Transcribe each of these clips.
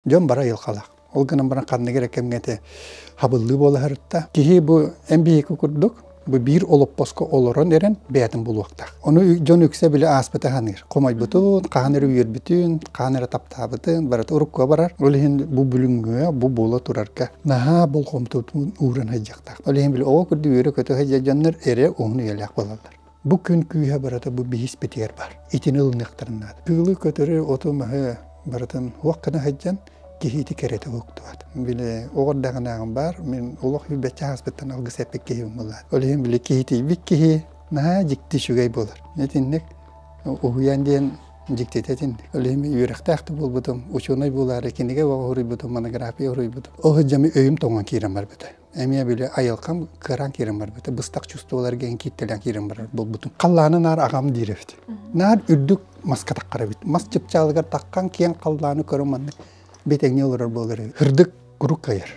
Дьон бары айылҕалаах. Ол гынан баран ханнык эрэ кэмҥэ ити хабыллыы буолаһарыттан киһи бу эн биһиги курдук бу биир олоппоско олорон эрэн бэйэтин булуохтаах. Ону дьон үксэ били ааспыта саныыр. Хомойбутун, хаһан эрэ үөрбүтүн, хаһан эрэ таптаабытын, барыта уруккуга барар. Ол иһин бу бүлүҥҥэ, бу буола турарга наһаа болҕомтотун ууран сылдьыахтаах. Ол иһин били оҕо курдук үөрэ-көтө сылдьар дьоннор эрэ уһун үйэлээх буолаллар. Бу күн күүһэ барыта бу биһиспитигэр бар. Итини ылыныахтарын наада. Кыылы көтөрү, оту-маһы барытын уох гына сылдьан киһити кэрэтэ уктубат. Били оҕор даҕанааҕым баар, мин олох билбэччэ ааспыттан алгыс эппит киһим буолар. Ол иһин били киһитийбит киһи наһаа дьикти үчүгэй буолар. Итинник уһуйаан диэн дьиктитэ итинник. Ол иһин үөрэхтээх да буолбутум, учуонай буолаары кинигэ оҕо хоруйбутум, монография хоруйбутум. Ол сылдьа өйүм тоҥон киирэн барбыта. эмиэ били айылҕам кыараан киирэн барбыта быстах чувстволарга эн кииттэлээн киирэн барар буолбутум халлааны наар аҕам диир эбит наар үрдүк маска таххар эбит мас чыпчаалыгар таххан киэҥ халлааны көрүн маннык бэтэҥҥэ олорор буолар үрдүк урук кыайар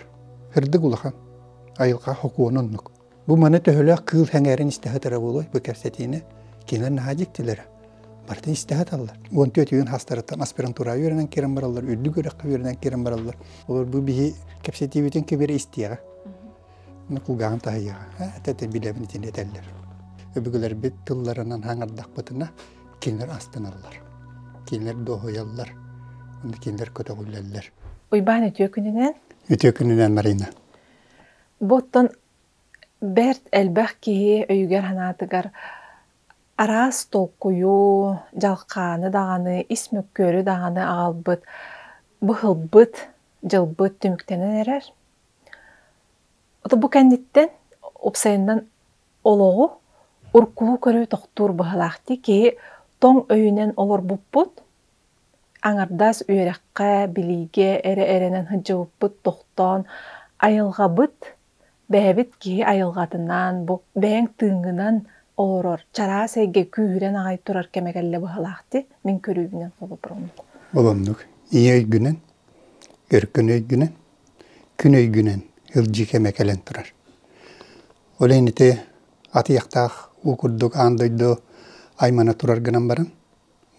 үрдүк улахан айылҕа хокуону оннук бу маны төһөлөөх кыыл сэҥээрин истэ сытара буолуой бу кэпсэтиини кинилэр наһаа дьиктилэрэ барытын истэ саталлар. Уон түөрт үйүн хастарыттан аспирантураҕа үөрэнэн киирэн бараллар, үрдүк үөрэххэ үөрэнэн киирэн бараллар. Олор бу биһи кэпсэтиибитин кэбири истиэҕэ. Кулгааҕын таһыйаҕа. Этэ билэбин итини этэллэр. Өбүгэлэрбит тылларынан хаҥардахпытына, кинилэр астыналлар. Кинилэр дуоһуйаллар. Кинилэр көтөҕүллэллэр. Уйбаан үтүө күнүнэн. Үтүө күнүнэн, Марина. Бу оттон бэрт элбэх киһи өйүгэр-санаатыгар Араас толкуйу, дьалхааны даҕаны, ис мөккүөрү даҕаны аҕалбыт, быһылбыт, дьылбыт түмүктэнэн эрэр. Оту бу кэнниттэн уопсайынан олоҕу уруккулуу көрүү тохтуур быһалаахтыы киһи тоҥ өйүнэн олорбуппут, аҥардас үөрэххэ, билиигэ эрэ эрэнэн сылдьыбыппыт тохтоон, айылҕабыт Бэйэбит киһи айылҕатынан, бу бэйэҥ тыыҥҥынан олорор чараас эйгэ күүһүрэн аҕай турар кэмэ кэллэ быһалаахтыы мин көрүүбүнэн холобурум. Олоннук. Ийэ өйгүнэн, өркөн өйгүнэн, күн өйгүнэн илдьи кэмэ кэлэн турар. Ол иһин ити атыйахтаах уу курдук аан дойду аймана турар гынан баран,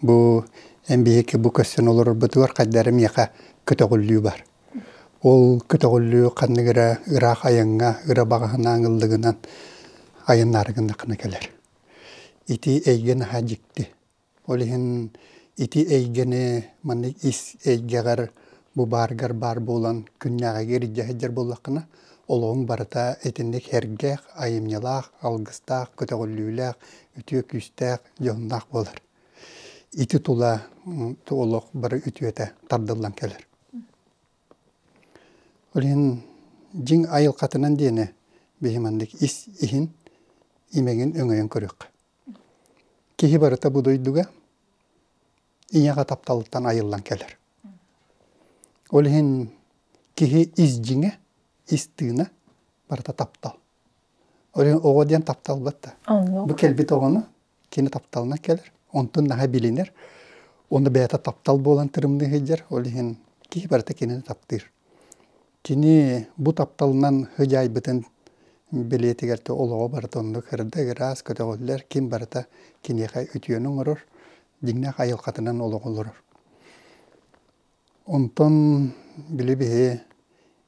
Бу эн биһиги бу көрсөн олорорбутугар хайдары миэхэ көтөҕүллүү бар. Ол көтөҕүллүү ханнык эрэ ыраах айаҥҥа, ыра баҕаһынаан ыллыгынан айаннаары гыннаххына кэлэр. Ити эйгэ наһаа дьикти. Ол иһин ити эйгэни маннык ис эйгэҕэр бу бааргар баар буолан күннээҕигэ илдьэ сылдьар буоллаххына олоҕуҥ барыта итинник эргэх, айымньылаах, алгыстаах, көтөҕүллүүлээх, үтүө күүстээх, дьоһуннаах буолар. Ити тула олох бары үтүөтэ тардыллан кэлэр. Олин дьиҥ айылхатынан диэни биһиманнык ис иһин имегин өҥөйөн көрүөх. Киһи барыта бу дойдуга ийэҕэ тапталыттан айыллан кэлэр. Ол иһин киһи ис дьиҥэ, ис тыына барыта таптал. оҕо диэн тапталбыт да. Бу кэлбит оҕону кини тапталынан кэлэр. Онтун наһаа билинэр. Ону бэйэтэ таптал буолан тырымныы сылдьар. Ол иһин киһи барыта кинини таптыыр. Кини бу тапталынан сыдьаайбытын бэлиэтигэр олоҕо барыта оннук эрдэ ыраас көтөҕүллэр. Ким барыта киниэхэ үтүөнү оҥорор. Дьиҥнээх айылҕатынан олоҕу олорор. Онтон били биһи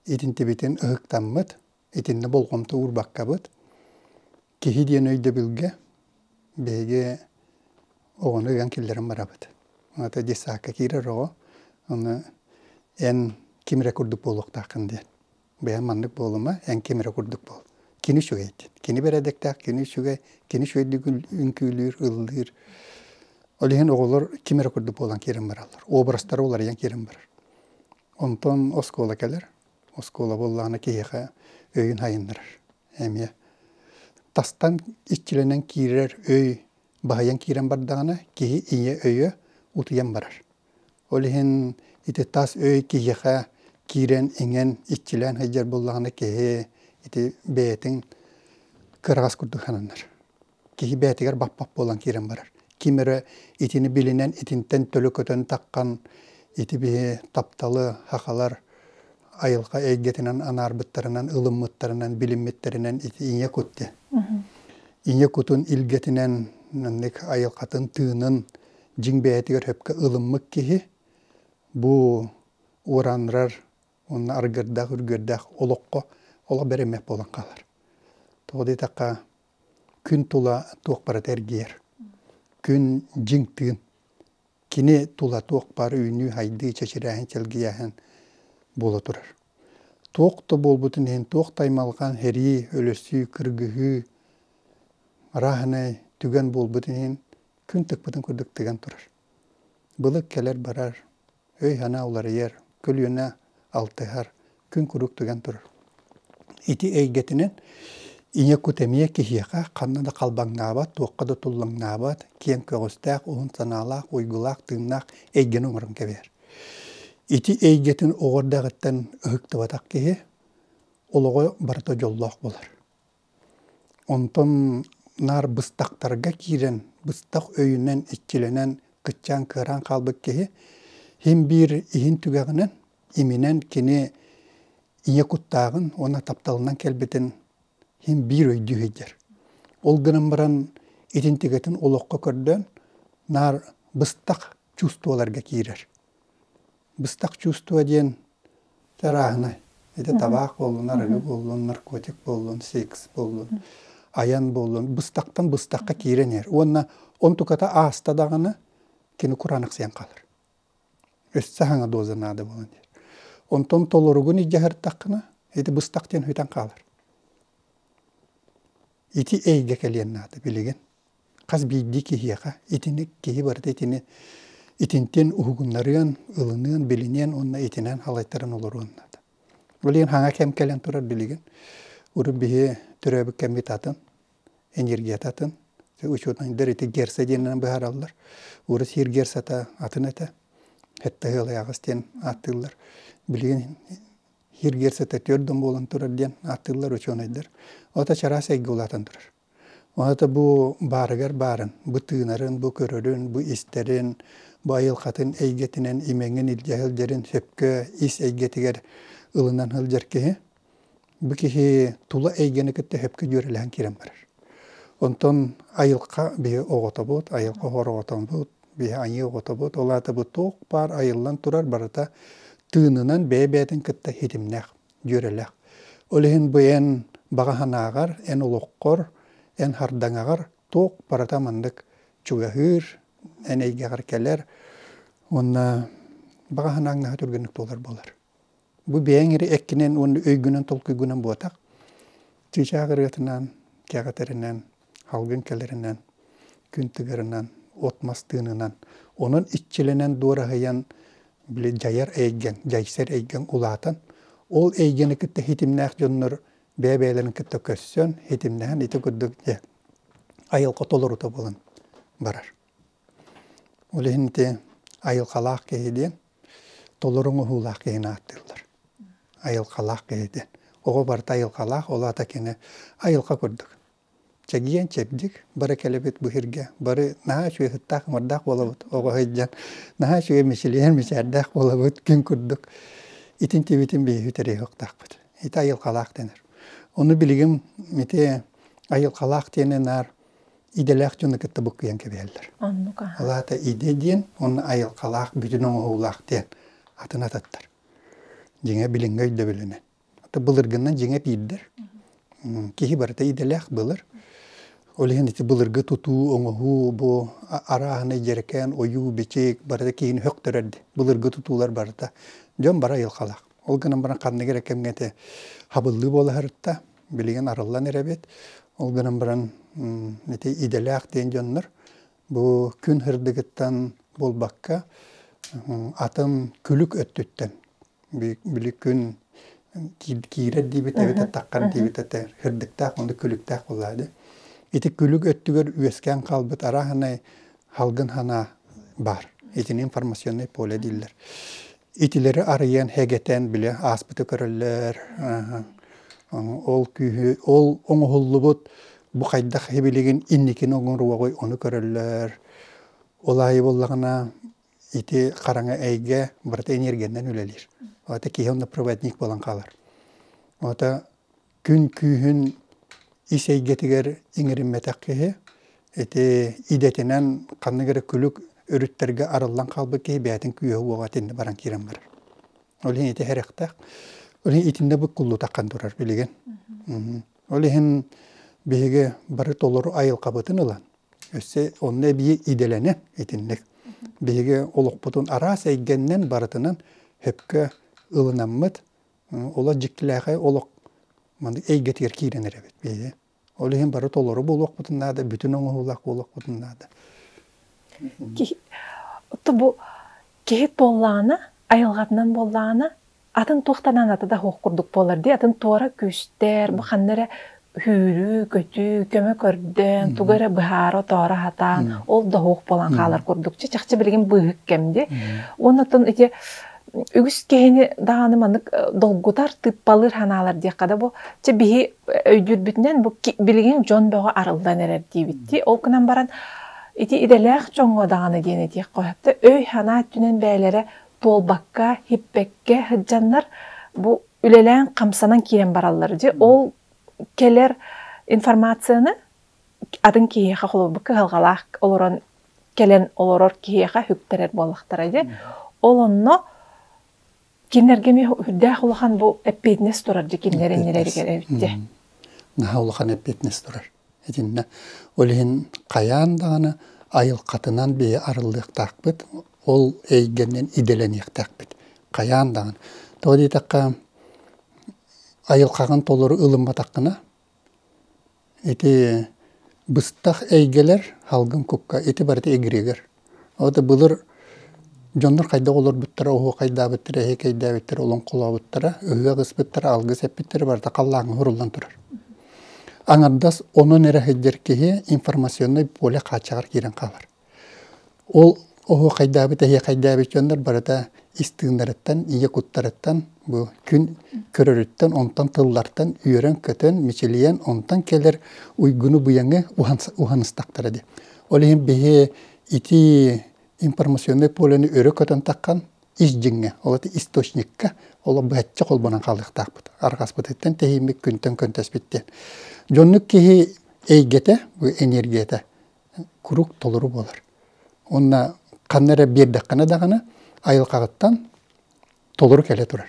итинтибитин ытыктаммыт итиннэ болҕомто уурбаккабыт. Киһи диэн өйдөбүлгэ биһиги оҕону ыйан киллэрэн барабыт. Ата детсадка киирэр оҕо, аны эн ким эрэ курдук буолуохтааххын диэн. Бэйэм маннык буолума, эн ким эрэ курдук буол. Кини үчүгэй диэн. Кини бэрээдэктээх, кини үчүгэй, кини үчүгэйдик үҥкүүлүүр, ыллыыр. Ол иһин оҕолор ким эрэ курдук буолан киирэн бараллар. Образтара уларыйан киирэн барар. Онтон оскуола кэлэр, оскуола буоллаҕына киһиэхэ өйүн сайыннарар. Эмиэ тастан иччилэнэн киирэр өй баһыйан киирэн бардаҕына киһи ийэ өйө утуйан барар. Ол иһин ити тас өй киһиэхэ киирэн иҥэн иччилээн сылдьар буоллаҕына киһи ити бэйэтин кыраҕас курдук сананар. киһи бэйэтигэр баппат буолан киирэн барар. Ким эрэ итини билинэн, итинтэн төлө көтөн таххан ити биһи тапталы хахалар айылҕа эйгэтинэн анаарбыттарынан, ылыммыттарынан, билиммиттэринэн ити ийэ кут диэн. Ийэ кутун илгэтинэн маннык айылҕатын тыынын дьиҥ бэйэтигэр сөпкө ылыммыт киһи бу уранрар уонна аргырдаах үргүөрдээх олоххо олох бэриммэт буолан хаалар. Тоҕо диэтэххэ күн тула туох барыта эргийэр. Күн дьиҥ тыын. Кини тула туох баар үүнүү-хайдыы, чэчирээһин, чэлгийээһин буола турар. Туох да буолбутун иһин, туох да аймалҕан, һэрии, өлөсүү, кыргыһыы, арааһынай түгэн буолбутун иһин күн тыкпытын курдук тыган турар. Былыт кэлэр-барар, өй-санаа уларыйар, көлүөнэ алтыһар, күн куруук тыган турар. Ити эйгэтинэн ийэ кут эмиэ киһиэхэ ханна да халбаҥнаабат, туохха да туллаҥнаабат, киэҥ көҕүстээх, уһун санаалаах, уйгулаах, тыыннаах эйгэни оҥорон кэбиһэр. Ити эйгэтин оҕо эрдэҕиттэн ыһыктыбатах киһи олоҕо барыта дьоллоох буолар. Онтон наар быстахтарга киирэн, быстах өйүнэн, иччилэнэн, кыччаан-кыараан хаалбыт киһи иһин-биир иһин түгэҕинэн иминэн кини ийэ куттааҕын уонна тапталынан кэлбитин иһин-биир өйдүү сылдьар. Ол гынан баран итин тигэтин олоххо көрдөөн наар быстах чувстволарга киирэр. быстах чувство диэн чарааһынай. Ити табаах буоллун, арыгы буоллун, наркотик буоллун, секс буоллун, айан буоллун, быстахтан быстахха киирэн иһэр. Уонна онтуката ааста даҕаны, кини кураанахсыйан хаалар. Өссө саҥа доза наада буолан иһэр. Онтон толоругун идьаһартаххына, ити быстах диэн хүйтэн хаалар. Ити эйгэ кэлиэн наада, билигин. Хас биирдии киһиэхэ итини киһи барыта итини итинтэн уһугуннарыан, ылыныан, билиниэн уонна итинэн халайтаран олоруон наада. Билигин хаҥа кэм кэлэн турар билигин урут биһи төрөөбүт кэммит атын, энергията атын, учуонайдар ити герца диэнинэн быһаараллар. Урут сиэр герцата атын этэ, хеттаһыалайаҕас диэн ааттыыллар. Билигин сиэр герцата төрт да буолан турар диэн ааттыыллар учуонайдар. Ото чараас эйгэ улаатан турар. Уонна бу баарыгар баарын, бу тыынарын, бу көрөрүн, бу истэрин, бу айылҕатын эйгэтинэн имэҥин илдьэ сылдьарын сөпкө ис эйгэтигэр ылынан сылдьар киһи, бу киһи тула эйгэни кытта сөпкө дьүөрэлэһэн киирэн барар. Онтон айылҕа биһи оҕотобут, айылҕа оҕотобут, биһи айыы оҕотобут, ол аата бу туох баар айыллан турар барыта тыынынан бэйэ-бэйэтин кытта ситимнээх. дьүөрэлэх. Ол иһин бу эн баҕа санааҕар, эн олоххор, эн хардаҥаҕар туох барыта маннык чугаһыыр, эн эйгэҕэр кэлэр уонна баҕа санааҥнаһа түргэнник туолар буолар. Бу бэйэҥ эрэ эккинэн уонна өйгүнэн толкуйгунан буотах. Чыычаах ырыатынан, кэҕэтэринэн Алгын кэлэринэн, күн тыгырынан, от-мас тыынынан, онон иччилэнэн дуораһыйан, били дьайар эйгэн, дьайсар эйгэн улаатан, ол эйгэни кытта хитимнээх дьоннор бэйэ-бэйэлэрин кытта көрсөн, хитимнэһэн ити курдук дьэ айылҕа толорута булан барар. Ол иһин ити айылҕалаах киһи диэн толору оҥоһуулаах киһини ааттыыллар. Айылҕалаах киһи диэн. Оҕо барыта айылҕалаах, ол аата кини айылҕа курдук. Чэгиэн чэбдик, бары кэлэбит бу иһиргэ, бары наһаа үчүгэйһыттаах ыҥырдаах буолабыт оҕо сылдьан, наһаа үчүгэй мичилийэр мичээрдээх буолабыт күн курдук. Итин тибитин биһиги тэрийиһиэхтаахпыт. Ити айылҕалаах дэнэр. Ону билигин ити айылҕалаах диэни наар идэлээх дьону кытта буккуйан кэбиһэллэр. Оннука. Алаата иде диэн уонна айылҕалаах бүтүн оҥоһуулаах диэн атын ататтар. Дьиҥэ билиҥҥи өйдөбүлүнэн. Былыргынан дьиҥэ биирдэр. Киһи барыта идэлээх былыр. Ол иһин ити былыргы тутуу, оҥоһуу, бу арааһынай дьэрэкээн, ойуу, бичик барыта киһини хөхтөрөр дии. Былыргы тутуулар барыта дьон бары айылҕалаах. Ол гынан баран ханнык эрэ кэмҥэ хабыллыы буолаһарытта билигин арыллан эрэбит. Ол гынан баран ити идэлээх диэн дьоннор бу күн һырдыгыттан буолбакка атын күлүк өттүттэн били күн киирэр диибит эбэтэр таххар диибит этэ һырдыктаах оннук күлүктээх буоллаҕа ити күлүк өттүгэр үөскээн хаалбыт араһынай Халгын ханаа баар. Итини информационное поле дииллэр. Итилэри арыйан, хэгэтэн, билэ ааспыты көрөллөр. Ол күүһү, ол оҥоһуллубут бу хайдах хибилигин инникини оҥоруоҕуй ону көрөллөр. Ол аайы буоллаҕына ити хараҥа эйгэ барыта энергияннан үлэлиир. Ата киһи онно проводник буолан хаалар. Ата Күн күүһүн ис эйгэтигэр иҥэриммэтэх киһи, ити идэтинэн ханнык эрэ күлүк өрүттэргэ арыллан хаалбыт киһи бэйэтин күүһэ уоҕа итиннэ баран киирэн барар. Ол иһин ити сэрэхтээх. Ол иһин итиннэ бу куллутаххан турар билигин. Ол иһин биһиги бары толору айылҕабытын ылан өссө онно эбии идэлэнэ итинник. Биһиги олохпутун араас эйгэннэн барытынан сөпкө ылынаммыт, Олох дьиктилээхэй олох маннык эйгэтигэр киирэн эрэбит биһиги. Ол иһин бары толору буолуохпутун наада, бүтүн оҥоһуулаах буолуохпутун наада. Оттон бу киһи буоллаҕына, айылҕатынан буоллаҕына, атын туохтанан ата да суох курдук буолар дии. Атын туора күүстэр, бу ханна эрэ Сүүрүү-көтүү, көмө көрдөөн, тугу эрэ быһаара-отоора сатаан, ол да уһук буолан хаалар курдук. Чэ, чахчы билигин быыһык кэм дии. Уонна оттон ити үгүс киһини даҕаны маннык долгутар, тыыппалыыр санаалар диэххэ да бу. Чэ, биһи өйдүүрбүтүнэн бу билигин дьон бөҕө арыллан эрэр диэбиттии. Ол гынан баран ити идэлээх дьоҥҥо даҕаны диэн этиэххэ сөптөөх өй-санаа өттүнэн бэйэлэрэ туолбакка, һиппэккэ сылдьаннар бу үлэлээн, хамсанан киирэн бараллар. Дьэ, ол кэлэр информацияны атын киһиэхэ холобурбут кыһалҕалаах олорон кэлэн олорор киһиэхэ үктэрэр буоллахтара дьэ. Ол онно кинилэргэ эмиэ үрдээх улахан бу эппиэтинэс турар дьэ кинилэр иннилэригэр эбитэ. Наһаа улахан эппиэтинэс турар. этиннэ. Ол иһин хайаан даҕаны айылхатынан биһи арыллыахтаахпыт, ол эйгэнэн идэлэниэхтээхпит хайаан даҕаны. Тоҕо диэтэххэ, айылхаҕын толору ылымматаххына, ити быстах эйгэлэр салгын кукка ити барыта эгиригэр. Ол да былыр дьоннор хайдах олорбуттара, оһуохайдаабыттара, эһиэкэйдээбиттэрэ, олоҥхолообуттара, ыһыах ыспыттара, алгыс эппиттэрэ барыта халлааҥҥа уһуруллан турар. Аҥардас онон эрэ сылдьар киһи информационнай поле хааччаҕар киирэн хаалар. Ол оһуохайдаабыт, эһиэкэйдээбит дьоннор барыта истииннэриттэн, ийэ куттарыттан, бу күн көрөрүттэн, онтон тыллартан үөрэн-көтөн, мичилийэн, онтон кэлэр уйгуну-быйаҥы уһаныстахтара дии. Ол иһин биһи итии информационнай полюны өрө көтөн таххан ис дьиҥҥэ, ол источникка олох бачча холбонон хаалыахтаахпыт. Арҕаспытыттан тэһииммит күнтэн көнтөспүт диэн. Дьоннук киһи эйгэтэ, бу энергията куруук толору буолар. Уонна ханна эрэ биэрдэххинэ даҕаны айылҕаҕыттан толору кэлэ турар.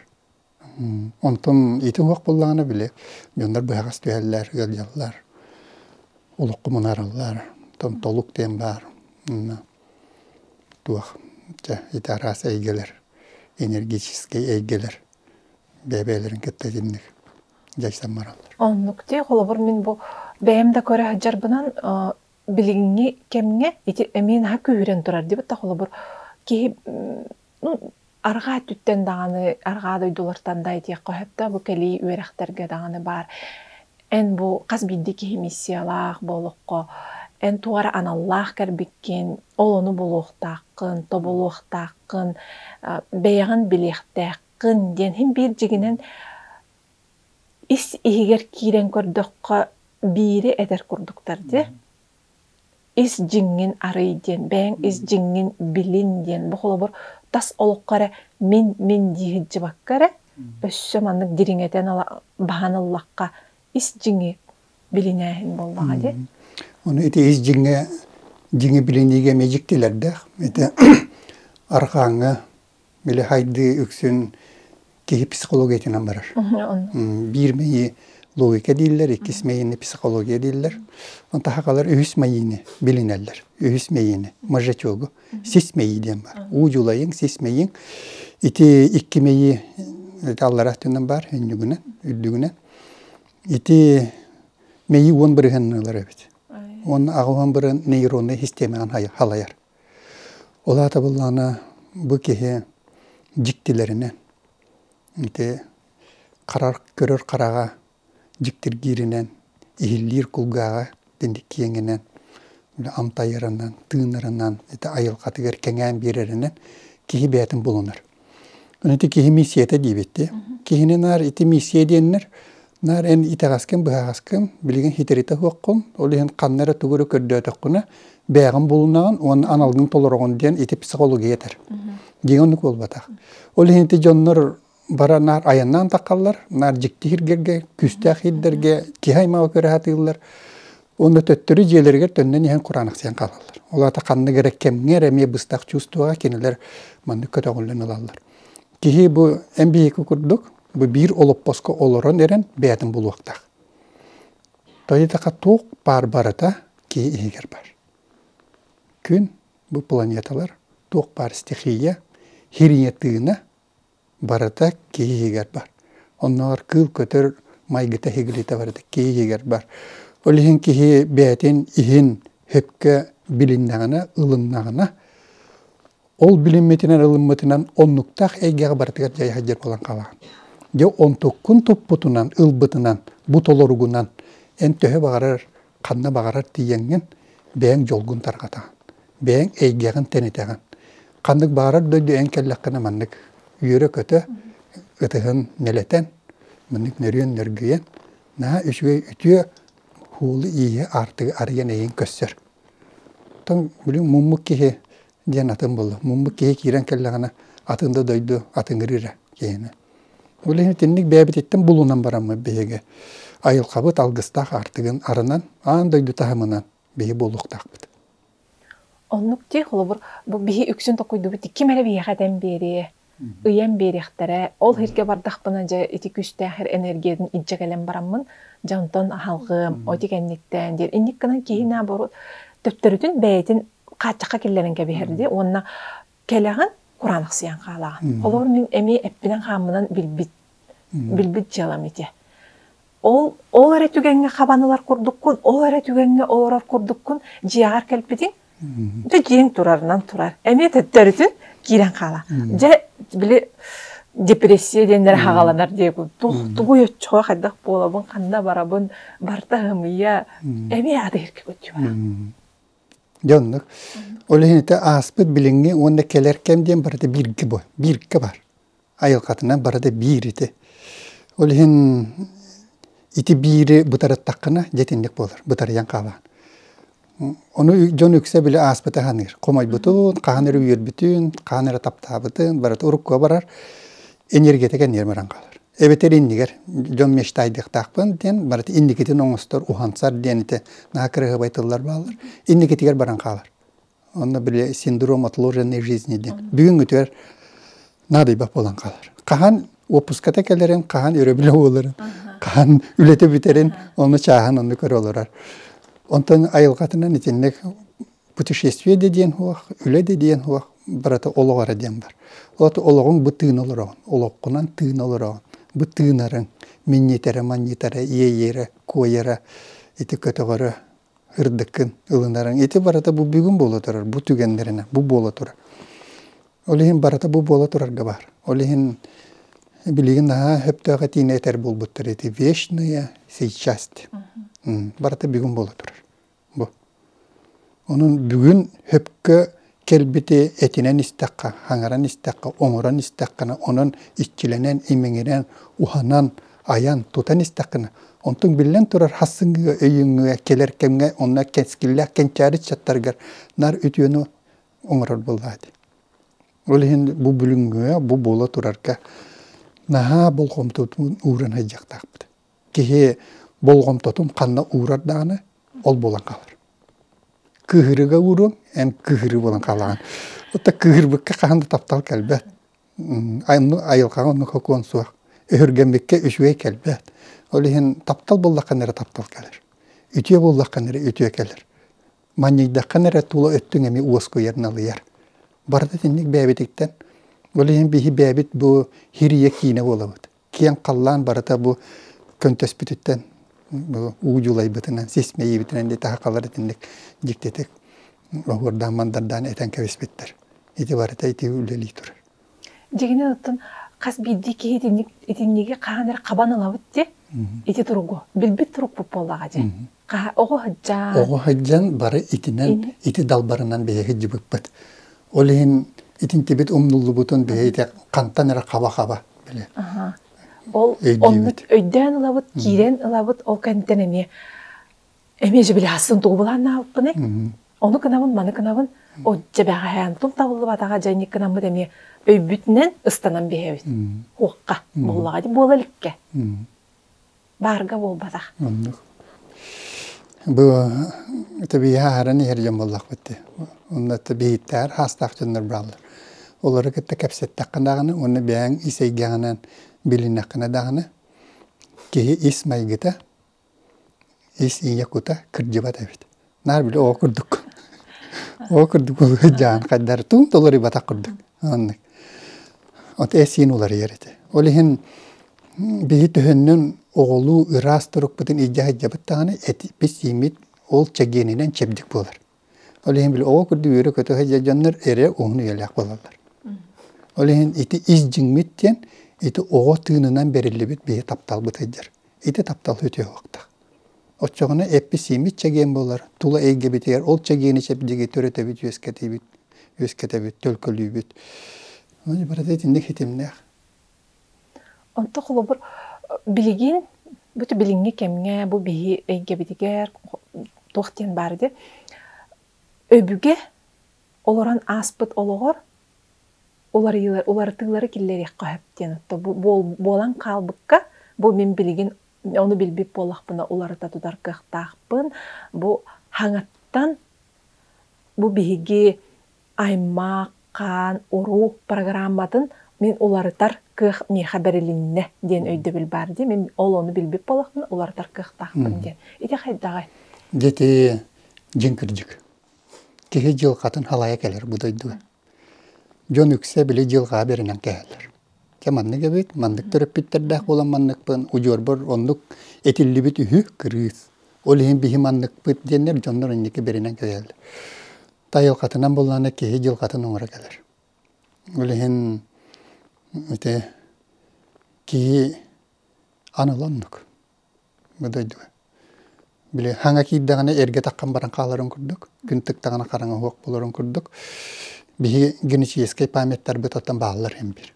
Онтон ити уһук буллаҕына били дьоннор быһаҕас түһэллэр, ыалдьаллар, олоххо мунаараллар. Оттон толук диэн баар туох чэ ити араас эйгэлэр, энергетическэй эйгэлэр бэйэ-бэйэлэрин кытта итинник дьайсан бараллар. Оннук дии. Холобур, мин бу бэйэм да көрө сылдьарбынан билиҥҥи кэмҥэ ити эмиэ наһаа күүһүрэн турар диэбит да холобур киһи Арҕаа өттүттэн даҕаны, арҕаа дойдулартан да этиэххэ сөптөөх, бу кэлии үөрэхтэргэ даҕаны баар. Эн бу хас биирдии киһи миссиялаах буолукка, эн туора аналлаах кэлбиккин, ол ону булуохтааххын, тобулуохтааххын, а, бэйэҕин билиэхтээххин диэн иһин биир дьигинэн ис иһигэр киирэн көрдөххө биири этэр курдуктар дии. ис дьиҥҥин арый диэн бэйэҥ ис дьиҥҥин билин диэн бу холобур тас олоххо эрэ мин мин дии сылдьыбакка эрэ өссө маннык дириҥэтэн баһан ыллахха ис дьиҥи билинээһин буоллаҕа дии ону ити ис дьиҥҥэ дьиҥи билиниигэ мэлдьи дьиктилэрдээх ити арҕааҥҥа Били хайдыы үксүн киһи психологиятынан барар. Биир мэйии логика дииллэр, иккис мэйиини психология дииллэр. Онтуха хаалар үһүс мэйиини билинэллэр. Үһүс мэйиини, мажечогу. Сис мэйии диэн баар. Уу дьулайыҥ, сис мэйииҥ. Ити икки мэйии аллараа өттүнэн баар, үннүгүнэн, үрдүгүнэн. Ити мэйии уон бырыһынныылара эбит. Уонна аҕа уон бырын нейроннай систиэмэҕин халайар. Ол аата былаана бу киһи дьиктилэринэн ити харар көрөр хараҕа дьиктиргииринэн иһиллиир кулгааҕа итинник киэҥинэн амтайырынан тыынырынан ити айылҕатыгар кэҥээн биэрэринэн киһи бэйэтин булунар Ити киһи миссията диэбиттии. Киһини наар ити миссия диэннэр наар эн итэҕэскин быһаҕаскын билигин хитиритэ суоххун ол иһин ханна эрэ тугу эрэ көрдөөтөххүнэ бээҕин булуннаҕын уонна аналгын толороҕун диэн ити психология этэр. Дьиҥ оннук буолбатах. Ол иһин ити дьоннор бара наар айаннаан таххаллар наар дьикти иһиргэргэ күүстээх иһирдэргэ киһи аймаҕы көрө сатыыллар Онно төттөрү дьиэлэригэр төннөн иһэн кураанахсыйан хаалаллар. Ол аата ханнык эрэ кэмҥэ эрэ эмиэ быстах чувствоҕа кинилэр маннык көтөҕүллэн ылаллар. Киһи бу эн биһиги курдук бу биир олоппоско олорон эрэн бэйэтин булуохтаах. Тойотаха туох баар барыта киһи иһигэр бар. Күн бу планеталар туох баар стихия, хириня тыына Барыта киһи иһигэр бар. Оннооҕор кыыл-көтөр майгыта иһигилитэ барыта киһи иһигэр бар. Ол иһин киһи бэйэтин иһин сөпкө билиннэҕинэ, ылыннаҕына, ол билиммитинэн, ылыммытынан оннуктаах эйгэҕэ барытыгар дьайа сылдьар буолан хаалаҕын. Дьэ, онтуккун туппутунан, ылбытынан, бу толоругунан эн төһө баҕарар, ханна баҕарар тиийэҥҥин бэйэҥ дьолгун тарҕатаҕын. бэйэҥ эйгэҕин тэнитэҕин. Ханнык баарар дойду эн кэллэххинэ маннык үөрэ-көтө, ытыһын нэлэтэн, маннык нөрүөн нөргүйэн, наһаа үчүгэй үтүө уулу-ииһи аартыгы арыйан эйиҥ көссөр. Оттон билигин муммут киһи диэн атын буолла. Муммут киһи киирэн кэллэҕинэ атын да дойду атыҥыры эрэ киһини. Ол иһин итинник бэйэбититтэн булунан бараммыт биһиги. Айылхабыт алгыстаах аартыгын арынан, аан дойду таһымынан биһи буолуохтаахпыт. Оннук дии, холобур, бу биһи үксүн токуйдубут ким эрэ биһиэхэ этэн биэриэ, ыйан биэриэхтэрэ. Ол иһиргэ бардахпына дьэ ити күүстээх эр энергиятын илдьэ кэлэн бараммын дьэ онтон аһалҕыам, ол ити кэнниттэн диэн инник гынан киһи наоборот төптөрүтүн бэйэтин хааччахха киллэрэн кэбиһэрдии уонна Кэлэҕин кураанахсыйан хаалаҕын. Холоор мин эмиэ эппинэн-хааммынан билбит билбит дьыалам ити. Ол ол эрэ түгэҥҥэ хабан ылар курдуккун, ол эрэ түгэҥҥэ олорор курдуккун дьиэҕэр кэлбитиҥ, да дьиэҥ турарынан турар. Эмиэ төттөрүтүн киирэн хаала. Дьэ били депрессия диэннэр хаҕаланар диэку тух тугуй оччоҕо хайдах буолабын, ханна барабын, барта һымыйа эмиэ аты иһиркэ көтүө. Дьэ оннук. Ол иһин ити ааспыт билиҥҥи уонна кэлэр кэм диэн барыта бииргэ бу бииргэ бар. Айылҕатынан барыта биир ити. Ол иһин ити биири бытарыттаххына дьэтинник буолар, бытарыйан хаалаан. Ону дьон үксэ били ааспыта саныыр. Хомойбутун, хаһан эрэ үөрбүтүн, хаһан эрэ таптаабытын, барыта уруккуга барар, энергиятыгар ньирмэрэн хаалар. эбэтэр иннигэр дьон мечтайдыахтаахпын диэн барыта инникитин оҥостор уһансар диэн ити наһаа кыраһыабай тыллар бааллар инникитигэр баран хаалар онно били синдром отложенной жизни диэн бүгүҥҥүтүгэр наадыйбат буолан хаалар хаһан уоппуската кэлэрин хаһан өрөбүлэ буоларын хаһан үлэтэ бүтэрин ону чааһын онно көрө олорор онтон айылҕатынан итинник путешествие да диэн суох, үлэ да диэн суох, барыта олох эрэ диэн бар. От олоҕуҥ бу тыына олороҕун, олоххунан тыына олороҕун, бу тыынарыҥ, минньитэрэ, манньытара, иэйэрэ, куойара, ити көтөҕөрө, ырдыккын ылынарыҥ, ити барыта бу бүгүн буола турар, бу түгэннэринэ, бу буола турар. Ол иһин барыта бу буола турарга баар. Ол иһин билигин наһаа сөптөөх этиини этэр буолбуттар ити вечная сейчас. Барыта бүгүн буола турар. бу. Онон бүгүн хөпкө кэлбити этинэн истэххэ, хаҥаран истэххэ, оҥорон истэххинэ, онон иччилэнэн, имиҥирэн, уһанан, айан, тутан истэххинэ, онтуҥ биллэн турар хассыҥҥыга, өйүҥҥэ, кэлэр кэмҥэ онно кэскиллээх кэнчээри ыччаттарыгар наар үтүөнү оҥорор буоллаҕа дии. Ол иһин бу бүгүҥҥүгэ, бу буола турарга наһаа болҕомтотун ууран сылдьыахтаахпыт. киһи болҕомтотун ханна уурар даҕаны ол буолан хаалар кыыһырыга ууруоҥ эн кыыһырыы буолан хаалаҕын отто кыыһырбыкка хаһан да таптал кэлбэт айылҕаҕа оннук сокуон суох өһүргэммиккэ үчүгэй кэлбэт ол иһин таптал буоллаххына эрэ таптал кэлэр үтүө буоллаххына эрэ үтүө кэлэр манньыйдаххына эрэ тула өттүҥ эмиэ уоскуйар налыйар барыта итинник бэйэбититтэн ол иһин биһи бэйэбит бу хирийэ киинэ буолабыт киэҥ халлаан барыта бу көнтөспүтүттэн уу дьулайбытынан сис мэйиибитинэн ити хахалар итинник дьиктитик оһуордаан мандардаан этэн кэбиспиттэр ити барыта ити үлэлии турар дьиҥинэн оттон хас биирдии киһи итинник итинниги хаһан эрэ хабан ылабыт дии ити туругу билбит турук буоллаҕа дии Хаһа, оҕо сылдьан. Оҕо сылдьан бары итинэн, ити далбарынан бэйэ сылдьыбыппыт. Ол иһин итинтибит умнуллубутун бэйэ ити хантан эрэ хаба-хаба били. Ол оннук өйдөөн ылабыт, киирэн ылабыт, ол кэнниттэн эмиэ эмиэ дьэ били хасын тугу былааннаабыппыный? Ону гынабын, маны гынабын. Отже бэҕэһээн тул табыллыбатаҕа дьэ инник гынаммыт эмиэ өйбүтүнэн ыстанан биһэбит. Хуохха, буоллаҕа дии буола иликкэ. баарга буолбатах оннук бу тэбииһэ аһаран иһэр дьон буоллахпыт дии онно биһиттээр хаастаах дьоннор бааллар олору кытта кэпсэттэххэ даҕаны уонна бэйэҥ ис эйгэҕинэн билиннэххинэ даҕаны киһи ис майгыта ис ийэ кута кырдьыбат эбит Наар били ол курдук. Ол курдук сыдьаан хайдар тун толоруйбатах курдук оннук. От эсин уларыйар этэ. Ол иһин биһи төһөннөн оҕолуу ыраас турукпутун идьэһэдьэбиттаҕына этиппит сииммит ол чэгиэнинэн чэбдик буолар. Ол иһин били оҕо курдук үөрэ көтө сылдьар дьоннор эрэ уһун үйэлээх буолаллар. Ол иһин ити ис дьиҥмит диэн ити оҕо тыынынан бэриллибит биһи тапталбыт сылдьар. Ити таптал үтүө уохтаах. Оччоҕуна эпписииммит чэгиэн буолар, тула эйгэбитигэр ол чэгиэни чэбдиги төрөтөбүт, үөскэтибит, үөскэтэбит, төлкөлүүбүт. Ону барыта итинник ситимнээх. Онто холобур билигин бу билиҥҥи кэмҥэ бу биһи эйгэбитигэр туох диэн баар ди өбүгэ олорон ааспыт олоҕор уларыйыылары уларытыылары киллэриэххэ сөп диэн буолан хаалбыкка бу мин билигин Оны билбит буоллахпына уларыта тутар кыахтаахпын. Бу хаҥаттан бу биһиги аймах, хаан, уруу программатын мин уларытар кыах миэхэ бэрилиннэ диэн өйдөбүл баар дии. Мин ол ону билбит буоллахпына уларытар кыахтаахпын диэн. Ити хайдаҕай? Дьэ дьиҥ кырдьык. Киһи дьылҕатын халайа кэлэр бу дойдуга. Дьон үксэ били дьылҕаҕа бэринэн кэһэллэр. Чэ маннык эбит, маннык төрөппүттэрдээх буолан манныкпын, удьуорбар оннук этиллибит үһү кырыыс. Ол иһин биһи манныкпыт диэннэр дьоннор инники бэринэн кэһэллэр. Тайылҕатынан буоллаҕына киһи дьылҕатын оҥоро кэлэр. Ол иһин ити киһи аны оннук. Бу дойду били хаҥа киирдэҕинэ эргэ таххан баран хааларын курдук, күн тыктаҕына хараҥаһуох болорун курдук, биһи генетическэй памяттарбыт оттон бааллар эмпир.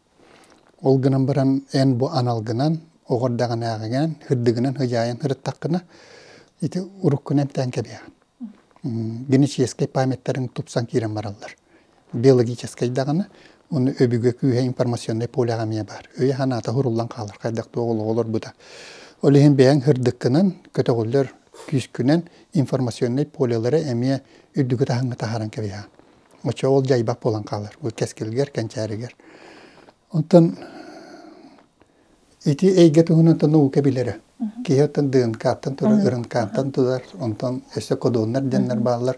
Ол гынан баран эн бу аналгынан, оҕордаҕынааҕыгынан, һырдыгынан, һыдьаайан һырыттаххына, ити уруккуну эмтээн кэбиһэҕин. генетическэй памяттарын тупсан киирэн бараллар. Биологическай даҕаны, уну өбүгэ күүһэ информационнай полеҕа эмиэ баар. Өйө-санаата хуруллан хаалар хайдах туох олорбута. Ол иһин бэйэҥ һырдыккынан, көтөҕүллэр күүскүнэн информационнай полелары эмиэ үрдүкү таһыҥҥа таһааран кэбиһэ. Оччо ол дьайбат буолан хаалар. Бу кэскилгэр, кэнчээригэр. Онтон Ити эйгэ туһунан да наука билэрэ. Киһи оттон ДНК-тан турар, РНК-тан турар, онтон өссө кодоннар диэннэр бааллар.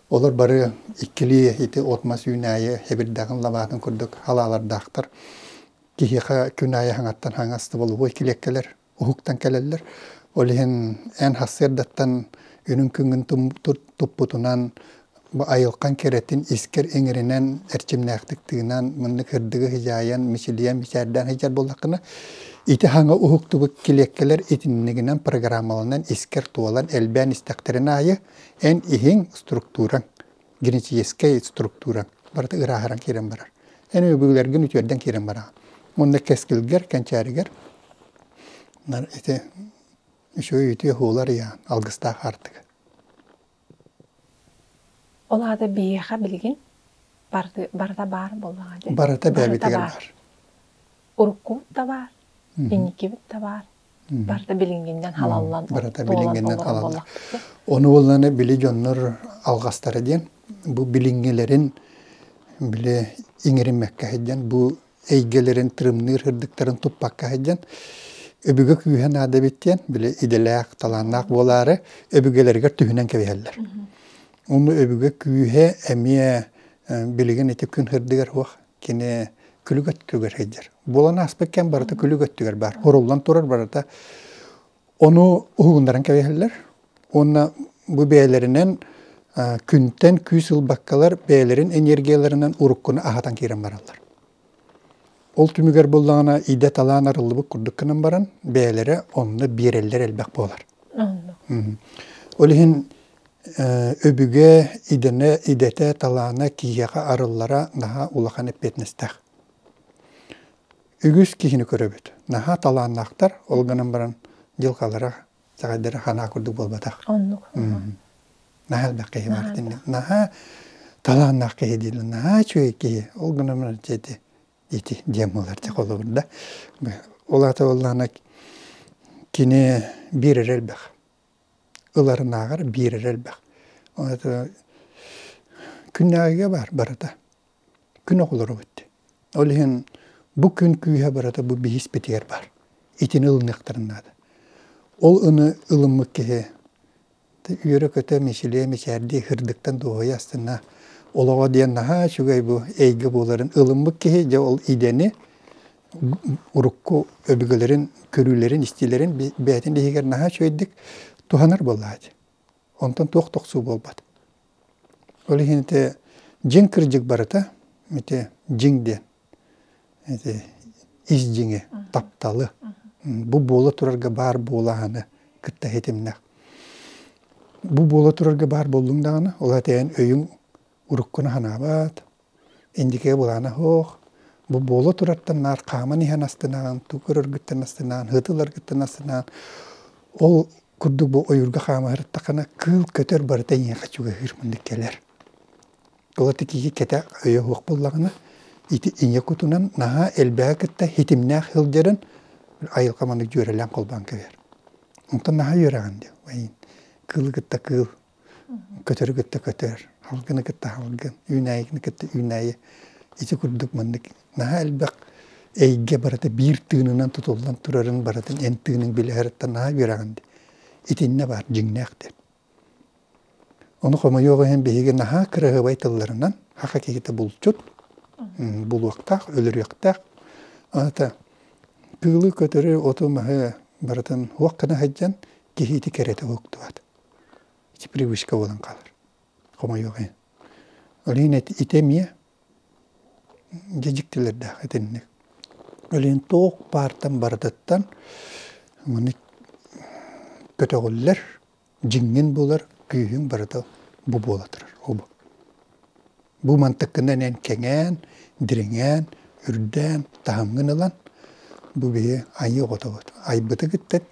Олор бары иккилии ити от-мас үүнээйи эбирдэҕин лабаатын курдук халаалардаахтар. Киһиэхэ күн аайы хаҥаттан хаҥастыбалыба килиэккэлэр уһуктан кэлэллэр. Ол иһин эн хасыардаттан үрүҥ күҥҥүн туппутунан Бу айылҕан кэрэтин искэр иҥэринэн, эрчимнээхтик тыынан, маннык ырдыгы сыдьаайан, мичилийэн, мичээрдээн сылдьар буоллаххына, ити хаҥа уһуктубут килиэккэлэр итиннигинэн программаланан искэр туолан элбээн истэхтэрин аайы, эн иһиҥ структураҥ, генетическэй структураҥ барыта ырааһыран киирэн барар. Эн өбүгэлэргин үтүөрдэн киирэн бараҕын. Уонна кэскилгэр, кэнчээригэр ити үчүгэй үтүө һуулар ыйаан, алгыстаах аартыга. Ол аата биһиэхэ билигин барыта барыта баар буоллаҕа дии. Барыта бэйэбитигэр баар. Уруккубут да баар, инникибит да баар. Барыта билиҥҥиннэн халаллан барыта билиҥҥиннэн халаллан. Ону булланы били дьоннор алҕастара диэн бу билиҥҥилэрин били иҥэриммэккэ сылдьан бу эйгэлэрин тырымныыр ырдыктарын туппакка сылдьан өбүгэ күүһэ наада эбит диэн били идэлээх талааннаах буолаары өбүгэлэригэр түһүнэн кэбиһэллэр онно өбүгэ күүһэ эмиэ билигин ити күн ырдыгар уох кини күлүк өттүгэр сылдьар буолан ааспыт кэм барыта күлүк өттүгэр баар уруллан турар барыта Ону уһугуннаран кэбиһэллэр уонна бу бэйэлэринэн күнтэн күүс ылбаккалар бэйэлэрин энергияларынан уруккуну аһатан киирэн бараллар. Ол түмүгэр буллаҕына идэ талаан арыллыбыт курдук гынан баран бэйэлэрэ онно биэрэллэр элбэх буолар. Ол иһин өбүгэ идэнэ идэтэ талаана киһиэхэ арыллара наһаа улахан эппиэтинэстээх. үгүс киһини көрөбүт. Наһаа талааннаахтар, ол гынан баран дьылҕалара чаҕайдара ханаа курдук буолбатах. Оннук. Наһаа элбэх киһи бар динэ. Наһаа талааннаах киһи дииллэр, наһаа үчүгэй киһи. Ол гынан баран дьэти ити диэн буолар дьэ холобур да. Ол аата боллаана кини биир эрэ элбэх. Ыларынааҕар биир эрэ элбэх. Күннээҕигэ бар барыта. күн оҕолоробут. Ол иһин бу күн күүһэ барыта бу биһиспитигэр баар. Итини ылыныахтарын наада. Ол ыны ылыммыт киһи үөрэ-көтө, мичилиэ, мичээрдии һырдыктан дуоһуйа астына олоҕо диэн наһаа үчүгэй бу эйгэ буоларын ылыммыт киһи дьэ ол идэни урукку өбүгэлэрин көрүүлэрин, истиилэрин бэйэтин иһигэр наһаа үчүгэйдик туһанар буоллаҕа дии. Онтон туох да охсуу буолбат. Ол иһин ити дьиҥ кырдьык барыта ити дьиҥ диэн ити ис дьиҥи тапталы бу буола турарга баар буолааны кытта ситимнэх бу буола турарга баар буоллуҥ даҕаны ол этээн өйүҥ уруккуна санаабат Индикея былаана һуох, бу буола турартан наар хааман иһэн астынаан, туг көрөргүттэн астынаан, һытыларгыттан астынаан, ол курдук бу ойуурга хаама сырыттаххына кыыл көтөр барыта эйиэхэ чугаһыыр мындык кэлэр. Ол ити киһи кэтэ өйө суох буоллаҕына ити ийэ кутунан наһаа элбэҕи кытта ситимнээх сылдьарын айылҕа маннык дьүөрэлээн холбоон кэбиһэр. Онтон наһаа үөрэҕин диэн кыылы кытта кыыл Көтөрү кытта көтөр, халгыны кытта халгын, үүнээйигини кытта үүнээйи ити курдук маннык наһаа элбэх эйгэ барыта биир тыынынан тутуллан турарын барытын эн тыыныҥ билиһэриттэн наһаа үөрэҕин дии. Итиннэ баар дьиҥнээхтэр. Ону хомойуох иһин биһиги наһаа кыраһыабай тылларынан аха киһитэ булчут булуохтаах, өлөрүөхтээх. Ата кыылы, көтөрү, оту, маһы барытын уох гына сылдьан киһи ити кэрэтэ уһуктубат. ити привычка буолан хаалар хомойуох иһин Өлүөн ити эмиэ дьэдьиктилэрдээх итинник Өлүөн туох баартан барытыттан манна көтөҕүллэр дьиҥҥин булар күүһүн барыта бу буола турар ол Бу мантыккынан эн кэҥээн, дириҥээн, үрдээн, таһымҥын ылан, бу биһи айыы оҕотобут. Айбыты кыттан,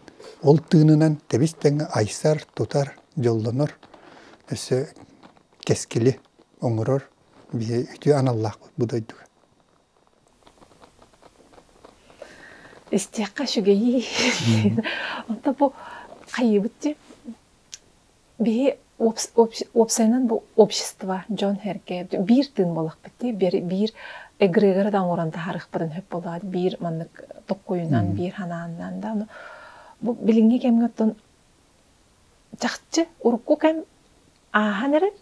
ол тыынынан тэбис тэҥэ айсар, тутар, дьоллонор, өссө кэскили оҥорор биһи үтүө аналлаахпыт бу дойдуга. Истиэххэ үчүгэйий. Онто бу хайыыбыт дии? Биһи уопсайынан бу общество дьон-сэргэ биир тыын буолахпыт дии биир эгрегоры да оҥорон таһаарыахпытын сөп буолаат биир маннык токкойунан биир санаанынан да бу билиҥҥи кэмҥэ оттон чахчы урукку кэм ааһан эрэр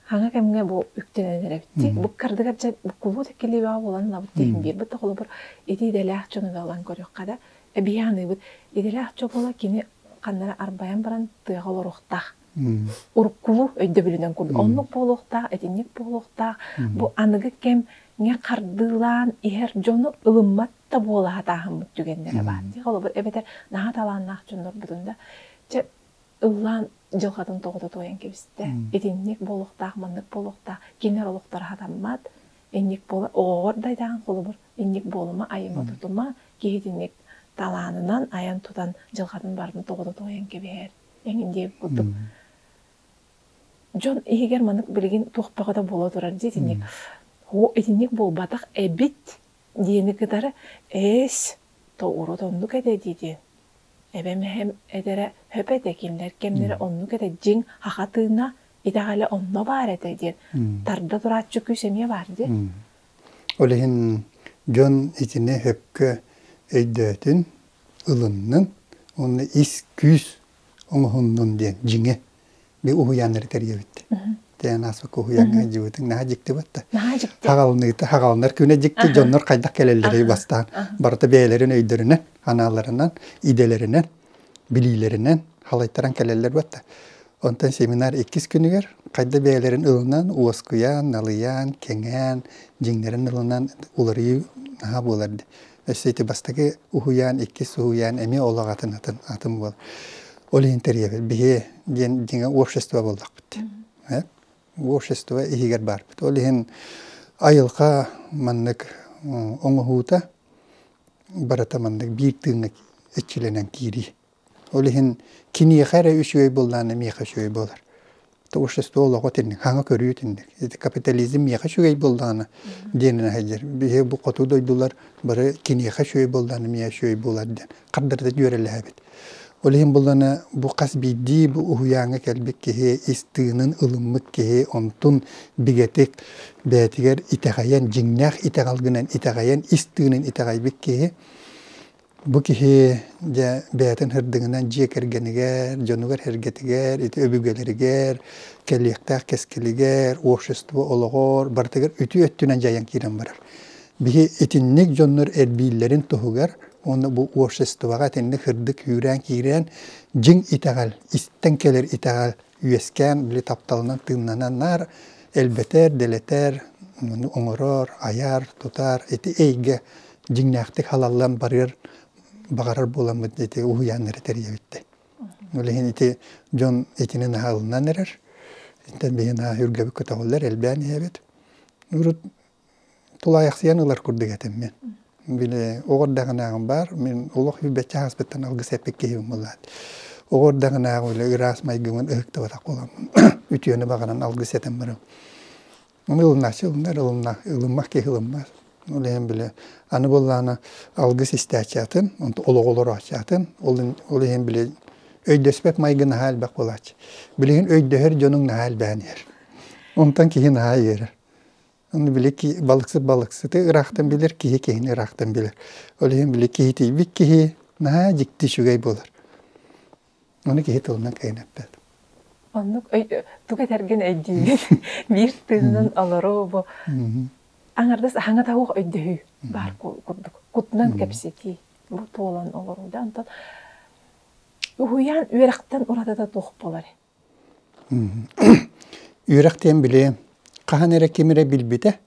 Аны кэмҥэ бу үктэнэн эрэ бүттик. Бу кардыгар дьэ буккуллубут иккилиэбэҕэ булан ылабыт диэн биэрбит да холобур итиидэлээх дьону да ылан көрүөххэ да эбии аныыбыт. Идэлээх дьобула кини ханнара арбайан баран тыаҕа олоруохтаах. Уруккулу өйдөбүлүнэн курдук оннук буолуохтаах, итинник буолуохтаах. Бу аныгы кэмҥэ хардыылаан иһэр дьону ылыммат да буолаһатааһыммыт түгэннэрэ баар. Холобур эбэтэр наһаа талааннаах дьоннорбутун да чэ ыллаан дьылҕатын тоҕута туойан кэбистэ. Итинник буолуохтаах, маннык буолуохтаах. Кинилэр олохторо хатаммат. Инник буола оҕоҕор дайдаҕын холобур. Инник буолума, айыма тутума. Киһитинник талаанынан айан-тутан дьылҕатын барытын тоҕута туойан кэбиһэр. Эҥин диир курдук. Дьон иһигэр маннык билигин туох бөҕө да буола турар дии итинник. Итинник буолбатах эбит диэни кытары эс тоҕуруот оннук этэ дии диэн эбэм эһэм эдэрэ хөп этэ кинилэр кэмнэрэ оннук этэ дьиҥ аха тыына итэҕэлэ онно баар этэ диэн тарда турааччы күүс эмиэ баар дии ол иһин дьон итини хөпкө өйдөөтүн ылыннын уонна ис күүс оҥоһуннун диэн дьиҥэ ми уһуйааннары тэрийэбит тээн ааспыкка уһуйааҥҥа сылдьыбытыҥ наһаа дьиктибит да хаҕалыныыта хаҕалынар күнэ дьикти дьоннор хайдах кэлэллэрий бастаан барыта бэйэлэрин өйдөрүнэн анааларынан идэлэринэн билиилэринэн халайтаран кэлэллэр бат да онтон семинар иккис күнүгэр хайда бэйэлэрин ылынан уоскуйан налыйан кэҥээн дьиҥнэрин ылынан уларыйыы наһаа буолар Өссө ити бастакы уһуйаан, иккис уһуйаан эмиэ ол аҕатын атын, атын буол. Ол иһин тэрийэбит. Биһи диэн дьиҥэ общество буоллахпыт. Э? Общество иһигэр баарбыт. Ол иһин айылҕа маннык оҥоһуута барыта маннык биир тыыҥҥа эччилэнэн киирии. Ол иһин киниэхэ эрэ үчүгэй быллаан миэхэ үчүгэй буолар. Общество олоҕо итинник, хаҥа көрүү итинник. Ити капитализм миэхэ үчүгэй быллаана диэн аһайдыр. Биһи бу хоту дойдулар бары киниэхэ үчүгэй быллаана миэхэ үчүгэй буолар диэн хардары дьүөрэлэһэбит. Ол иһин быллаана бу хас биирдии бу уһуйааҥҥа кэлбит киһи ис тыынын ылыммыт киһи онтун бигэтик бэйэтигэр итэҕэйэн, дьиҥнээх итэҕэл гынан итэҕэйэн, ис тыынын итэҕэйбит киһи Бу киһи дьэ бэйэтин һырдыгынан дьиэ кэргэнигэр, дьонугар-һэргэтигэр, ити өбүгэлэригэр, кэлиэхтээх кэскилигэр, общество олоҕор барытыгар үтүө өттүнэн дьайан киирэн барар. Биһи итинник дьоннор эрбииллэрин туһугар уонна бу обществоҕа итинник һырдык үүрээн киирэн дьиҥ итэҕэл, истэн кэлэр итэҕэл үөскээн били тапталынан тыыннанан наар элбэтэр, дэлэтэр, оҥорор, айар, тутар ити эйгэ дьиҥнээхтик халаллан барыар баҕарар буоламмыт ити уһуйаан эрэ тэрийэбиттэр. Ол иһин ити дьон итинэн аһылынан эрэр. Итинтэн биһи наһаа үргэбит көтөҕүллэр, элбээн иһэбит. Урут тулаайахсыйан ылар курдук этиммин. Били оҕо эрдэҕинээҕим баар, мин олох билбэччэ ааспыттан алгыс эппит киһим буолаат. Оҕо эрдэҕинээҕи үлэ ыраас майгымын ыһыктыбатах буоламмын, үтүөнү баҕаран алгыс этэн барым. Ону ылынааччы ылынар, ылына, ылыммах киһи ылыммат. Ол иһин били аны буоллаана алгыс истээччи атын, олоҕу олорооччу атын. Ол иһин били өйдөспөт майгы наһаа элбэх буолааччы. Билигин өйдөһөр дьонуҥ наһаа элбээн иһэр. Онтон киһи наһаа иһэрэр. Аны били балыксыт балыксыты ыраахтан билэр, киһи киһини ыраахтан билэр. Ол иһин били киһи тиийбит киһи наһаа дьикти үчүгэй буолар. Ону киһи тылынан кэҥэппэт. Оннук тугу этэргин өйдүүгүн? Биир тыынынан олоруу бу аҥардас аһаҥата суох өйдөһүү баар курдук. Кутунан кэпсэтии, бу туолан олоруу да онтон уһуйаан үөрэхтэн уратыта туох буолар? Үөрэх диэн били хаһан эрэ ким эрэ билбитэ,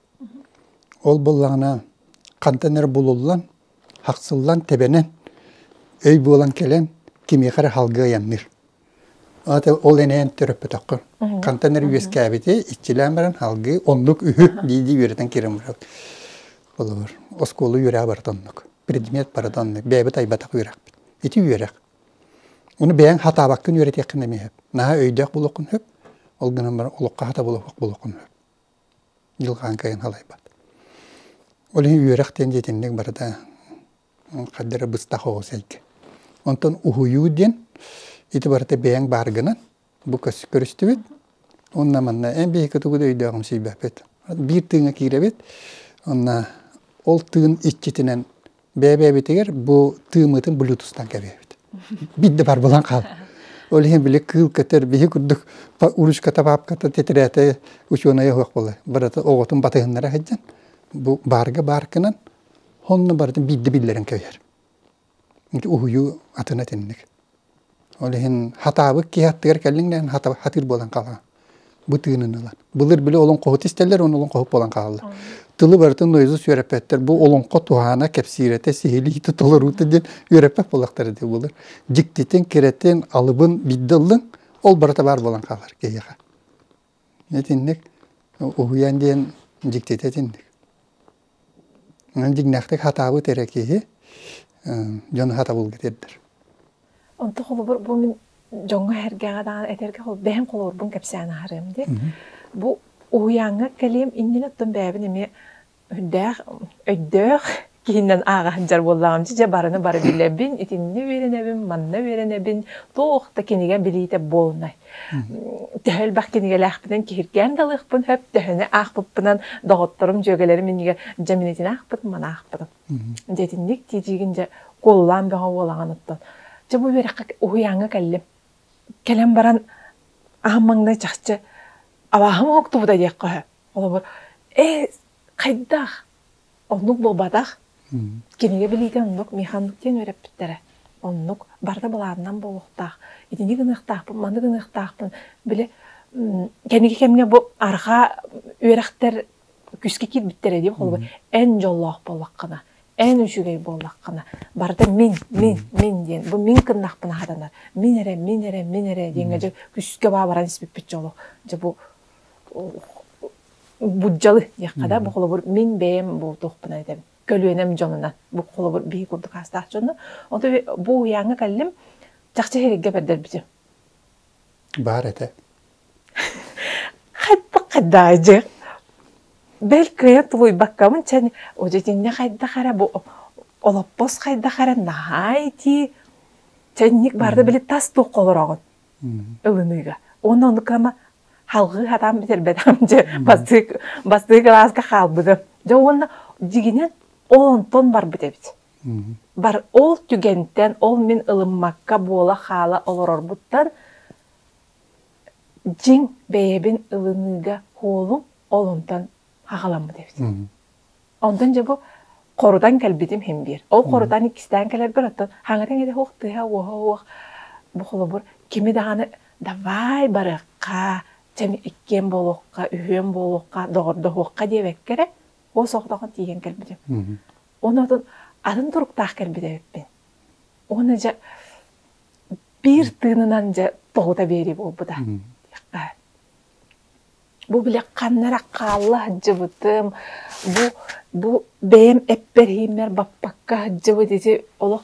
ол буоллаҕына хантан эрэ булуллан, хахсыллан, тэбэнэн өй буолан кэлэн кимиэхэ эрэ салгыы айанныыр. ол эн эйэн төрөппөтөххө. Хантан эрэ үөскээбитэ иччилээн баран салгыы оннук үһү дии-дии үөрэтэн киирэн барар. Холобур, оскуола үөрэҕэ барыта оннук. Предмет барыта оннук. Бэйэбит айбатах үөрэхпит. Ити үөрэх. Ону бэйэҥ хатаабаккын үөрэтиэххин эмиэ сөп. Наһаа өйдөөх буолуоххун сөп, ол гынан баран олоххо хата булуохх булуоххун сөп. Дьылҕаан кайын халайбат. Ол иһин үөрэх диэн дьитинник барыта хадда эрэ быстах оҕус эйгэ. Онтон уһуйуу диэн ити барыта бэйэҥ бааргынан бу көрүстүбүт уонна манна эн биһиги тугу да өйдөөҕүн сийбэппит биир тыыҥҥа киирэбит уонна ол тыын иччитинэн бэйэ-бэйэбитигэр бу тыыммытын блютустан кэбиһэбит биир да бар булан хаалбат ол иһин били кыыл көтөр биһи курдук уручката папката титирээтэ учуонайа суох буолар барыта оҕотун батыһыннара сылдьан бу баарга бааркынан онно барытын биирдэ биллэрэн кэбиһэр уһуйуу атын этинник. Ол иһин хатаабыт киһи аттыгар кэллиҥ дээн хатыыр буолан хаалаҕын. Бу тыынын ылан. Былыр били олоҥхоһут истэллэр уонна олоҥхоһут буолан хаалаллар. Тылы барытын Луиза үөрэппэттэр. Бу олоҥхо туһаана, кэпсиирэтэ, сиһилиитэ, толоруута диэн үөрэппэт буоллахтар этэ былыр. Дьиктитин, кирэтин, алыбын биирдэ ыллыҥ, ол барыта баар буолан хаалар киһиэхэ. Итинник уһуйан диэн дьиктитэ итинник. Дьиҥнээхтик сатаабыт эрэ киһи дьону сатабылга тиэрдэр. Онто холобур бу мин дьоҥҥо эһэргэҕэ даҕаны этэргэ бэйэм холобурбун кэпсээн аһарыам диэн. Бу уһуйааҥҥа кэлиэм иннинэ оттон бэйэбин эмиэ Өйдөөх, өйдөөх киһинэн ааҕа сылдьар буоллаҕым. Дьэ, барыны бары билэбин, итиннэ үөрэнэбин, манна үөрэнэбин. Туох да кинигэ билиитэ буолунай. Төһө элбэх кинигэлээхпинэн киһиргээн да ылыахпын сөп, төһөнү аахпыппынан доҕотторум, дьүөгэлэрим иннигэр дьэ мин итини аахпытым, маны аахпытым. Дьэ итинник тиитиигин дьэ куолулаан бөҕө буолаҕын оттон. Дьэ бу үөрэххэ уһуйааҥҥа кэллим. Кэлэн баран аһым маҥнай чахчы абааһым уһуктубута диэххэ сөп. Холобур, э, хайдах? Оннук буолбатах. М. Кинигэ билиитин оннук Миха Аннукеен үөрэппиттэрэ. Оннук барыта былаанынан буолуохтаах. Итини гыныахтаахпын, маны гыныахтаахпын. Били м, кэнники кэмҥэ бу арҕаа үөрэхтэр күскэ киирбиттэрэ дии холобур. Мгм. Эн дьоллоох буоллаххына, эн үчүгэй буоллаххына, барыта мин, мин, мин диэн. Бу мин кыннахпына хатанар. Мин эрэ, мин эрэ, мин эрэ диэҥҥэ Мгм. дьэ күскэ баабаран испиппит дьоло. Дьэ бу буддьалы диэххэ да бу холобур мин бэйэм бу туохпунан этэбин көлүөнэм дьонунан бу холобур биһиги курдук аастаах дьону онту бу уйааҥҥа кэллим чахчы сиһилиггэ бэрдэрбитим баар этэ хайдах хайдаайдьы бэл кыайан тулуйбаккамын чэн итиннэ хайдах эрэ бу олоппос хайдах эрэ наһаа итии чэнник баарда били тас туох олороҕун ылыныыга. Уонна ону кыама халҕыы хатаан бүтэрбэтим дьэ бастыы бастыы кылааска хаалбытым. Дьэ уонна дьигинэн оонтон барбыт эбит. Бар ол түгэнтэн ол мин ылыммакка буола-хаала олорорбуттан дьиҥ бэйэбин ылыныыга куолум олонтон аҕаламмыт эбит. Онтон дьэ бу хорутан кэлбитим хим биэр. Ол хорутан иккистээн кэлэргэр оттон хаҥатыҥ ити хуох тыһа уоха уох бу холобур кими даҕаны давай барыахха, чэм иккиэн буолуохха, үһүөн буолуохха, доҕордоһуохха диэбэккэ эрэ уо сохдоҕон тиийэн кэлбитим. Оны отун атын туруктаах кэлбит эбиппин. Уона дьэ биир тыынынан дьэ тоһута биэрии буолбута. Бу били ханнара хаалла сылдьыбытым, бу бу бэйэм эппэрһииммэр баппакка сылдьыбыт ити олох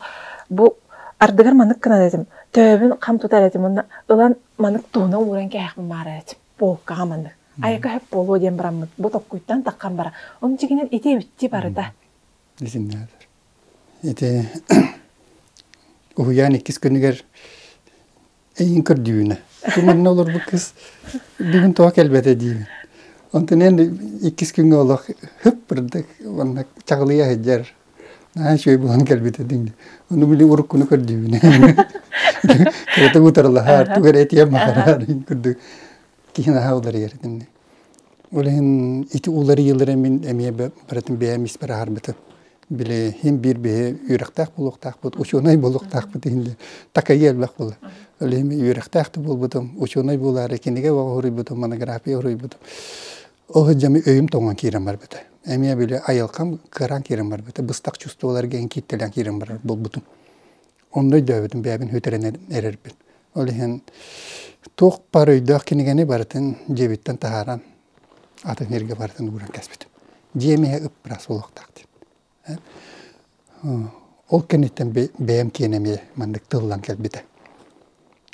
бу ардыгар маннык гынар этим, төбөбүн хам тутар этим уонна ылан маннык туһуна ууран кэһээхпин баарар этим. Полкаҕа маннык. Айака сөп буолуо диэн бараммыт. Бу токкуйтан таххан бара. Омчигинэн ити эбитти барыта. Итиннэр. Ити уһуйаан иккис күнүгэр эйиин көрдүүнэ тугу манна олорбут кыыс бүгүн тоҕо кэлбэтэ диибин онтон эн иккис күҥҥэ олох һып бырдык уонна чаҕылыйа сылдьар наһаа үчүгэй буолан кэлбитэ диҥ ону били уруккуну көрдүүбүн кэрэтэ утарылаһаар тугу эрэ этиэн баҕараар курдук тиһэн аһа уларыйар этим. Ол иһин ити уларыйыылары мин эмиэ барытын бэйэм испэр аһарбытым. Били иһин биир биһи үөрэхтээх буолуохтаахпыт, учуонай буолуохтаахпыт иһин такайыы элбэх буолар. Ол иһин үөрэхтээх да буолбутум, учуонай буолаары кинигэ оҕо хоруйбутум, монография хоруйбутум. Ол иһин дьэ өйүм тоҥон киирэн барбыта. Эмиэ били айылҕам кыараан киирэн барбыта. Быстах чувстволар диэн кииттэлээн киирэн барар буолбутум. Онно өйдөөбүтүм бэйэбин бүтэрэн эрэрбин. Ол иһин туох бар өйдөөх кинигэни барытын дьиэбиттэн таһааран атын сиргэ барытын ууран кэспитим. Дьиэм иһэ ыппырас буолуохтаах диэн. Ол кэнниттэн бэйэм киэнэ эмиэ маннык тыллан кэлбитэ.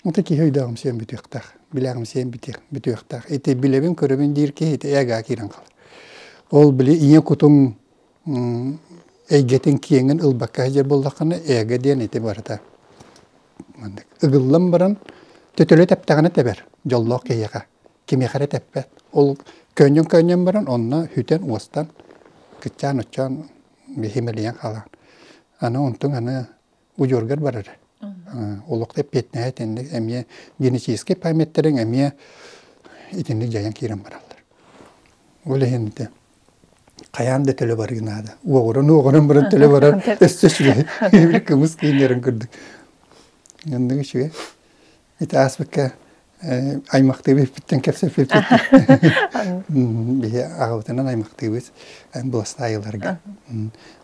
Ити киһи өйдөөҕүм сиэн бүтүөхтээх, билээҕим сиэн бүтүөхтээх. Ити билэбин, көрөбүн диир киһи ити эgaa киирэн хаалар. Ол били ийэ кутуҥ эйгэтин киэҥин ылбакка сылдьар буоллаххына эго диэн ити барыта маннык ыгыллан баран төтөлү тэптэҕинэ тэбэр дьоллоох киһиэхэ кимиэхэ эрэ тэппэт ол көөнньөн көөнньөн баран онно сүтэн уостан кыччаан уччаан биһимэлийэн хаалан аны онтуҥ аны удьуоргар барар. Олохто эппиэтинэһэ итинник эмиэ генетическэй памяттарын эмиэ итинник дьайан киирэн бараллар. Ол иһин ити хайаан да төлө барыы наада. Уоҕуран уоҕуран баран төлө барар өстө сүгэ кымыс кииннэрин курдук. Ынныгы үчүгэй. Ити ааспыкка аймахтыы бүппүттэн кэпсэппиппит. Биһи аҕабытынан аймахтыыбыт быластаайыларга.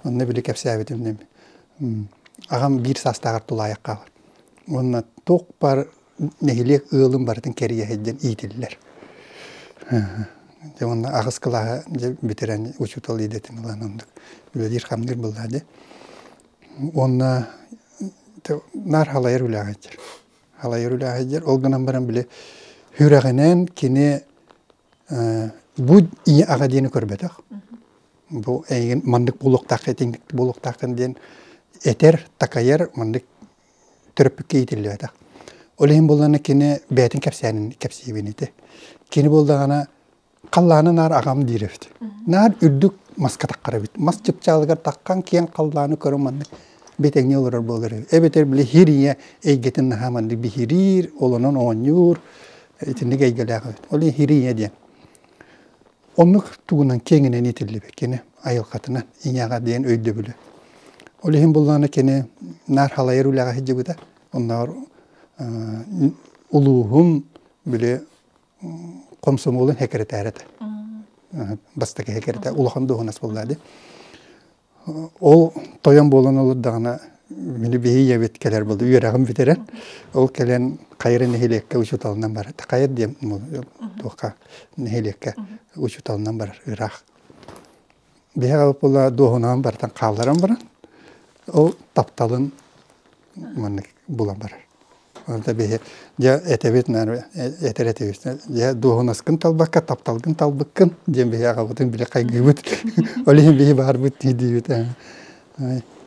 Онно били кэпсээбитим ним аҕам биир саастааҕар тулаайахха уонна туохпар нэһилиэк ыалым барытын кэрийэһит диэн иитиллэр. Дьэ уонна аҕыс кылааһы дьэ бүтэрэн учуутал идэтин ылан оннук үлэлиир хамныыр быллаа дьэ уонна наар халайар үлээһэйдэр. Халайар үлээһэйдэр, ол гынан баран били сүрэҕинэн кини бу ийэ аҕа диэни көрбөтөх. Бу эйигин маннык буолуохтаах этиҥник буолуохтааххын диэн этэр, такайар маннык төрөппүккэ иитиллибэтэх. Ол иһин буоллана кини бэйэтин кэпсээнин кэпсиибин ити. Кини буолдаҕына халлааны наар аҕам диир эбит наар үрдүк маска таххар эбит мас чыпчаалыгар таххан киэҥ халлааны көрө маннык бэтэҥҥэ олорор буолар эбит эбэтэр били һир ийэ эйгэтин наһаа маннык биһириир олонон оонньуур итинник эйгэлээх эбит ол иһин һир ийэ диэн оннук тугунан киэҥинэн иитиллибит кини айылҕатынан ийэҕэ диэн өйдөбүлэ ол иһин буллаана кини наар халайар үлэҕэ сылдьыбыта оннооҕор улууһун били комсомолун секретарь этэ. Бастакы секретарь улахан дуоһунас булла ди. Ол тойон буолан олордаҕына мини бихиябит кэлэр болды үөрэҕим бүтэрэн ол кэлэн хайыра нэһилиэккэ учуталынан барар хайыр дием туоха нэһилиэккэ учуталынан барар ыраах биһиэхэ була дуоһунаан барытын хаалларан баран ол тапталын маннык була барар онто биһи дьэ этэбит наверное этэр этибит дьэ дуоһунаскын талбакка тапталгын талбыккын диэн биһиэхэбытин били хайгыыбыт ол иһин биһи баарбыт дии диибит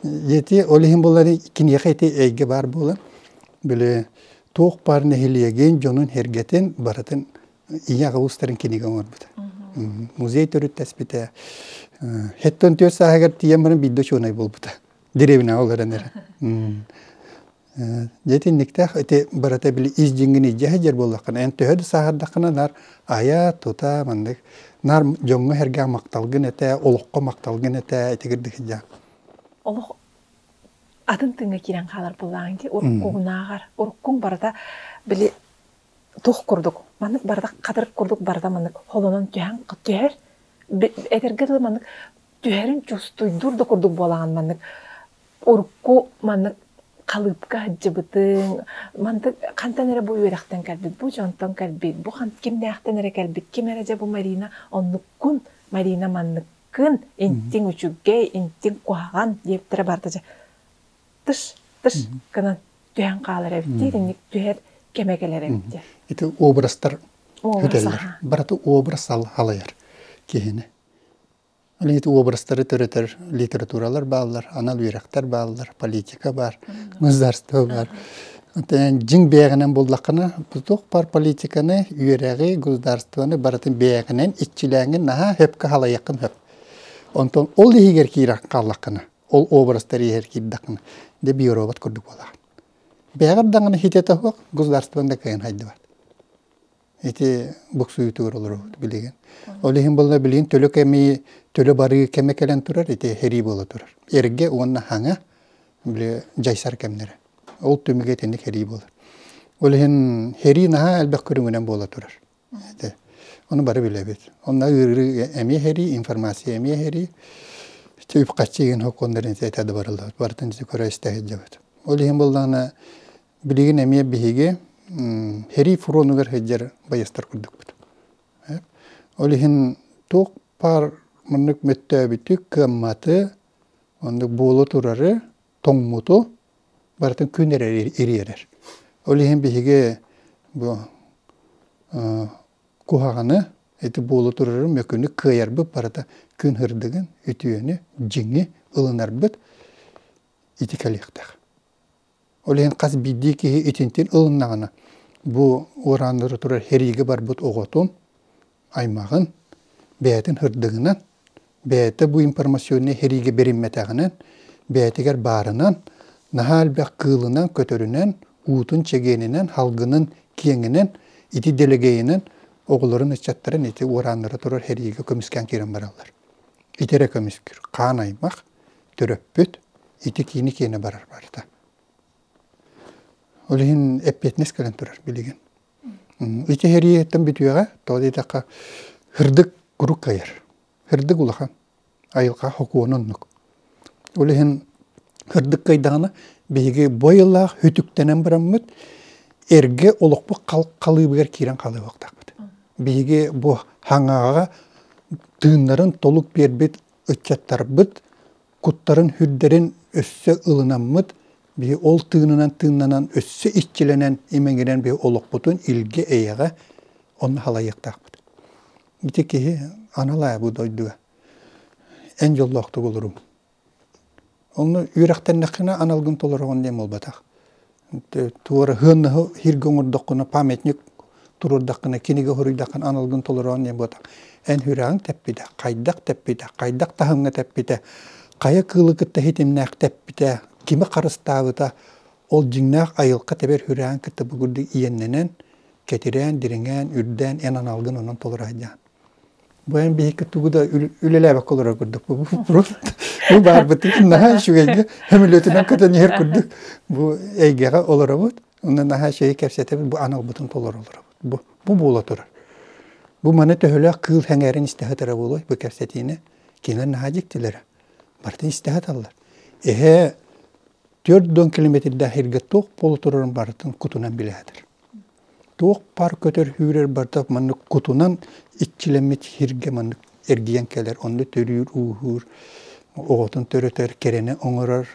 ети ол иһин булар киниэхэ ити эйгэ баар буолан били туох баар нэһилиэгин дьонун сэргэтин барытын ийэ улуустарын кинигэ оҥорбута. Музей төрүттэспитэ. Хэттон түөрт сааһыгар тиийэн баран биирдэ учуонай буолбута. Деревняҕа олорон эрэн. Дьэ итинниктээх ити барыта били ис дьиҥин илдьэ сылдьар буоллаххына эн төһө да сааһырдаххына наар айа тута маннык наар дьоҥҥо сэргээх махталгын этэ олоххо махталгын этэ итигирдик сылдьаан олох атын тыыҥҥа киирэн хаалар буоллаҕыҥ дии уруккугунааҕар уруккуҥ барыта били тух курдук маннык бардак хатырык курдук барда маннык холонон түһэн түһэр этэргэ дылы маннык түһэрин чустуйдуур да курдук буолаҕын маннык урукку маннык халыыпка сылдьыбытыҥ мантык хантан эрэ бу үөрэхтэн кэлбит бу дьонтон кэлбит бу кимнээхтэн эрэ кэлбит ким эрэ дьэ бу Марина оннуккун Марина манныккын интиҥ үчүгэй интиҥ куһаҕан диэбиттэрэ барда дьэ тыш тыш гынан түһэн хаалар эбит диир инник түһэр кэмэ кэлэр эбит диэн. Ити образтар өтөллөр. Барыта образ халайар киһини. Ити образтары төрөтөр литературалар бааллар, анал үөрэхтэр бааллар, политика бар, государство бар. Дьиҥ бэйэҕинэн буллаххына, туох бар политиканы, үөрэҕи, государствоны барытын бэйэҕинэн иччилээҥин наһаа хөпкө халайаххын хөп. Онтон ол иһигэр киирэн хааллаххына, ол образтар иһэр кирдахын де биоробот курдук буолар. Бэҕэр даҕаны хитэтэ суох государствон да кыйын хайдыбат. Ити буксуйтуур олоробут билигин. Ол иһин болла билигин төлө кэми төлө барыы кэме кэлэн турар ити херии бола турар. Эрге уонна хаҥа били жайсар кэмнере. Ол түмүгэ итинник херии болар. Ол иһин херии наһаа элбэх көрүҥүнэн буола турар. Ону бары билэбит. Онно ыарыы эмиэ иһэрии, информация эмиэ иһэрии. Үп-харчы иһин сокуоннарын этэ да барыллыбат. Барытын көрө истэ сылдьабыт. Ол иһин буоллаҕына билигин эмиэ биһиги иһэрии фронугар сылдьар байыастар курдукпут. Ол иһин туох баар маннык мөлтөөбүтү, кыамматы, оннук буола турары тоҥмуту барытын күн эрэ ириэрэр. Ол иһин биһиги бу куһаҕаны ити буолу турары мөкүнү кыайарбыт барыта күн һырдыгын, үтүөнү, дьиҥи ылынарбыт ити кэлиэхтээх. Ол иһин хас биирдии киһи итинтин ылыннаҕына бу уорааннары турар сэриигэ барбыт оҕотун аймаҕын, бэйэтин һырдыгынан, бэйэтэ бу информационнай сэриигэ бэриммэтэҕинэн, бэйэтигэр баарынан, наһаа элбэх кыылынан-көтөрүнэн, уутун-чэгиэнинэн, халгынын-киэҥинэн, ити дэлэгэйинэн оҕолорун, ыччаттарын ити уорааннара турар сэриигэ көмүскээн киирэн бараллар. Ити эрэ көмүскүүр хаан аймах, төрөппүт ити киини киэнэ барар барыта. Ол иһин эппиэтинэс кэлэн турар билигин. Ичэһэрийэттэн бүтүөҕэ, тоҕо диэтэххэ, һырдык куруук кыайар. Һырдык улахан, айылҕа сокуона оннук. Ол иһин һырдык кыайдаҕына биһиги бу айыллаах үтүктэнэн бараммыт эргэ олохпут халыыбыгар киирэн хаалыахтаахпыт. Биһиги бу хаҥаҕаҕа тыыннарын толук биэрбит ыччаттарбыт куттарын үрдэрин өссө ылынаммыт, бии ол тыынынан-тыыннанан өссө иччилэнэн, имэҥирэн бии олохпутун илгэ-эйэҕэ онно халайыахтаахпыт. Ити киһи анал аайы бу дойдуга эн дьоллоохтук олоруҥ. Онно үөрэхтэннэххинэ аналгын толороҕун диэн буолбатах. туораһыаннаһы сиргэ оҥордоххуна памятник туруордаххына кинигэ хоруйдаххына аналгын толороон не буотах эн хүрэҕиҥ тэппитэ хайдах тэппитэ хайдах таһымҥа тэппитэ хайа кыылы кытта ситимнээх тэппитэ кими харыстаабыта ол дьиҥнээх айылҕа тэбэр хүрэҕин кытта бу курдук иэннэнэн кэтирээн дириҥээн үрдээн эн аналгын онон толоро сылдьаан Быйан биһикки тугу да үлэлээбэккэ олорор курдук. Бу баарбытын наһаа үчүгэйгэ сөмөлүөтүнэн көтөн иһэр курдук бу эйгэҕэ олоробут. Онно наһаа чэйи кэпсэтэбит, бу аналбытын толору олоробут. Бу, бу буола турар. Бу маны төһөлөөх кыыл сэҥээрин истэ сытара буолуой бу кэпсэтиини кинилэр наһаа дьиктилэрэ. Барытын истэ саталлар. Эһээ төрт уон километрдээх эргэ туох буола турарын барытын кутунан билээтэр. Туох паар көтөр сүүрэр барыта маннык кутунан иччилэммит сиргэ маннык эргийэн кэлэр. Онно төрүүр-ууһуур, оҕотун төрөтөр, кэрэнэ оҥорор,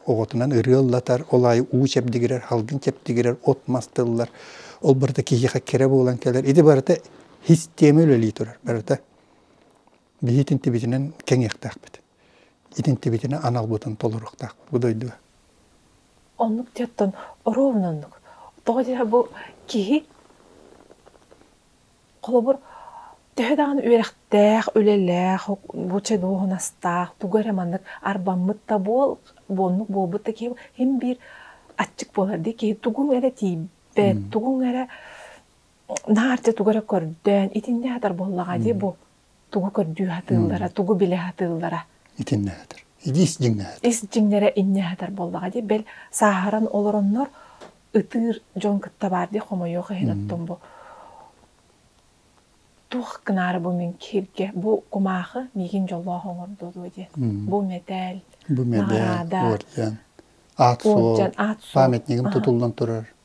оҕотунан ырыа ыллатар, ол аайы уу чэбдигирэр, халгын чэбдигирэр, от-мас тыллар. Ол барыта киһиэхэ кэрэ буолан кэлэр. Ити барыта систиэмэ үлэлии турар, барыта. Биһи итинтибитинэн кэҥиэхтээхпит. Итинтибитинэ аналбытын толоруохтаахпыт бу дойдуга. Оннук диэттэн оруобуна оннук. Тоҕо диэхэр бу киһи холобур төһө даҕаны үөрэхтээх, үлэлээх, нуучча дуоһунастаах, тугу эрэ маннык арбаммыт да буол, оннук буолбут да киһи иһин биир аччык буолар дии киһи тугуҥ эрэ тиийбэт, тугуҥ эрэ наар дьэ тугу эрэ көрдөөн итиннэ сытар буоллаҕа дии бу. тугу көрдүү сатыыллара, тугу билэ сатыыллара. Итиннэ сатар. Ис дьиҥнэһэтэр. Ис дьиҥнэрэ иннэ сатар буоллаҕа дии. Бэл, сааһыран олороннор ытыыр дьон кытта баар дии хомойуох иһин оттон бу туох гынаары бу мин кииргэ бу кумаахы миигин дьоллоох оҥордо дуо диэн. Бу мэтээл, Бу мэдээл, наҕараада, уордьан, аат суол, памятнигым тутуллан турар.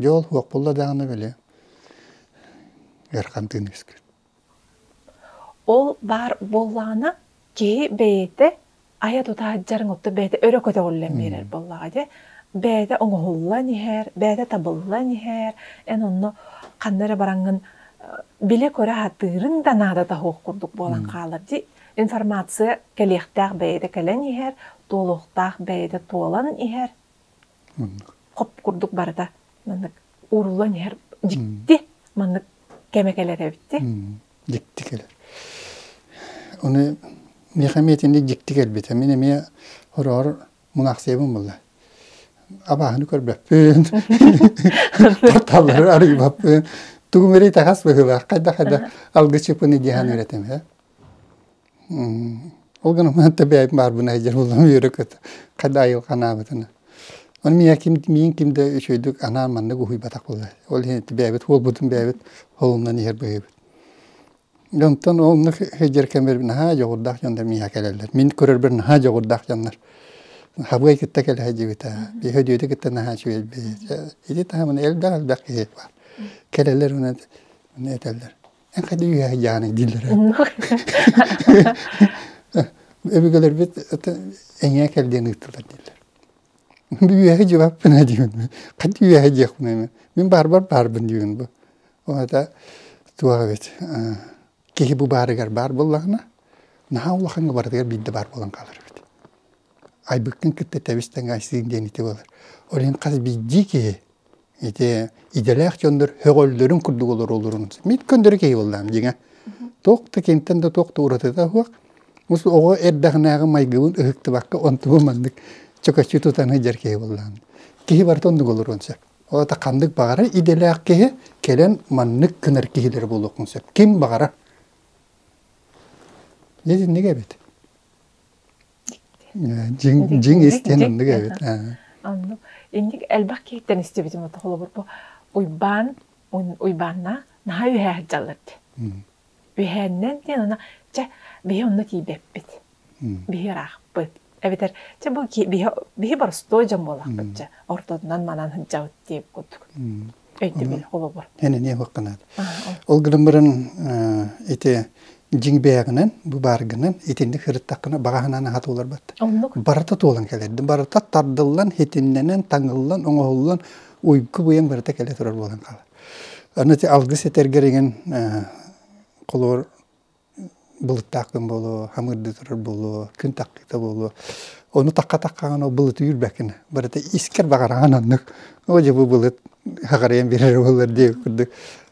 Дьэ ол уох булла даҕаны били Эрхантыын искит Ол баар буоллаҕына киһи бэйэтэ айа тутаһыдьарыҥ отту бэйэтэ өрө көтөҕүллэн биэрэр буоллаҕа дьэ бэйэтэ оҥоһуллан иһэр бэйэтэ табыллан иһэр эн онно ханна эрэ бараҥҥын билэ-көрө аһатыырыҥ да наадата суох курдук буолан хаалар дии информация кэлиэхтээх бэйэтэ кэлэн иһэр туолуохтаах бэйэтэ туолан иһэр хоп курдук барыта маннык ууруллан иһэр дьикти маннык кэмэ кэлэр эбит дьикти кэлэр ону миэхэ эмиэ итинник дьикти кэлбитэ мин эмиэ хороор мунаахсыйабын буолла абааһыны көрбөппүн батталлары арыйбаппын тугум эрэ итэҕэс быһыылаах хайдах хайдах алгычыппыны диэһэн ырэтим Ол гынан баран да бэйэм баарбын айдьар буоллум үөрэ-көтө хайдах айылҕанаабытына. Ону миэхэ ким миин ким да үчүгэйдик анаан маннык уһуйбатах буолуо. Ол иһин бэйэбит уолбутун бэйэбит холунан иһэр быһыыбыт. Онтон ол оннук сылдьар кэммэр наһаа дьоҕурдаах дьон да миэхэ кэлэллэр. Мин көрөрбөр наһаа дьоҕурдаах дьоннор. Хабыай кытта кэлэ сылдьыбыта. Биһи Дүөдэ кытта наһаа үчүгэй бэйэ. Ити таһымын элбэх-элбэх киһи баар. Кэлэллэр этэллэр Эхэни үһэ Яна дииллэрэ. Өбүгэлэрбит эҥээ кэлдиэн ыыттылар дииллэр. Үөһэ дьыбаппына диибин. Ханна үөһэ диэхпин эми. Мин баарбар баарбын диибин бу. Оната туох эбит. Киһи бу баарыгар баар буоллаҕына, наһаа улахаҥҥа барытыгар биирдэ баар буолан хаалар эбит. Айбыккын кытта тэбис тэҥэ айсыын диэн ити буолар. Ол иһин хас биирдии киһи ити идэлээх дьоннор сөҕөллөрүн курдук олороллорун мин көннөрү киһи буоллаам дьиҥэ туох да кимтэн да туох да уратыта суох оҕо эрдэҕинээҕи майгыбын ыһыктыбакка онтубун маннык чөкөччү тутан сылдьар киһи буоллаам киһи барыта оннук олоруон сөп ол ханнык баҕарар идэлээх киһи кэлэн маннык гынар киһилэр буолуохун сөп ким баҕарар дьэ итинник эбит Дьиҥ дьиҥ истиэн оннук эбит. Оннук. Инник элбэх киһиттэн истибитим ото холобур бу Уйбаан Уйбааннаах наһаа үһээ сылдьаллар дии. Үһээннэн диэн ана чэ биһи онно тиийбэппит. Биһи ыраахпыт. Эбэтэр чэ бу биһи биһи боростуой дьон буолахпыт чэ ортотунан манан сылдьабыт диир курдук. өйдөбүл холобур. Эн эмиэ бакканаат. Ол гынан баран ити дьиҥ бэйэҕинэн, бу бааргынан итинник хырыттаххына баҕаһынан аһа туолар бат. Оннук. Барыта туолан кэлэрдин. Барыта тардыллан, хитиннэнэн, таҥыллан, оҥоһуллан уйгу быйаҥ барыта кэлэ турар буолан хаалар. Аны ити алгыс этэргэр иҥэн холоор Былыттаахтан буолуо, хамыырда турар буолуо, күн тахтыыта буолуо. Ону такка-таккаҕына былытыыр бэркин. Барыта искэр баҕараҕын аннык. Оо дьэ бу былыт хаҕырыйан биэрэрэ буоллар диэ курдук.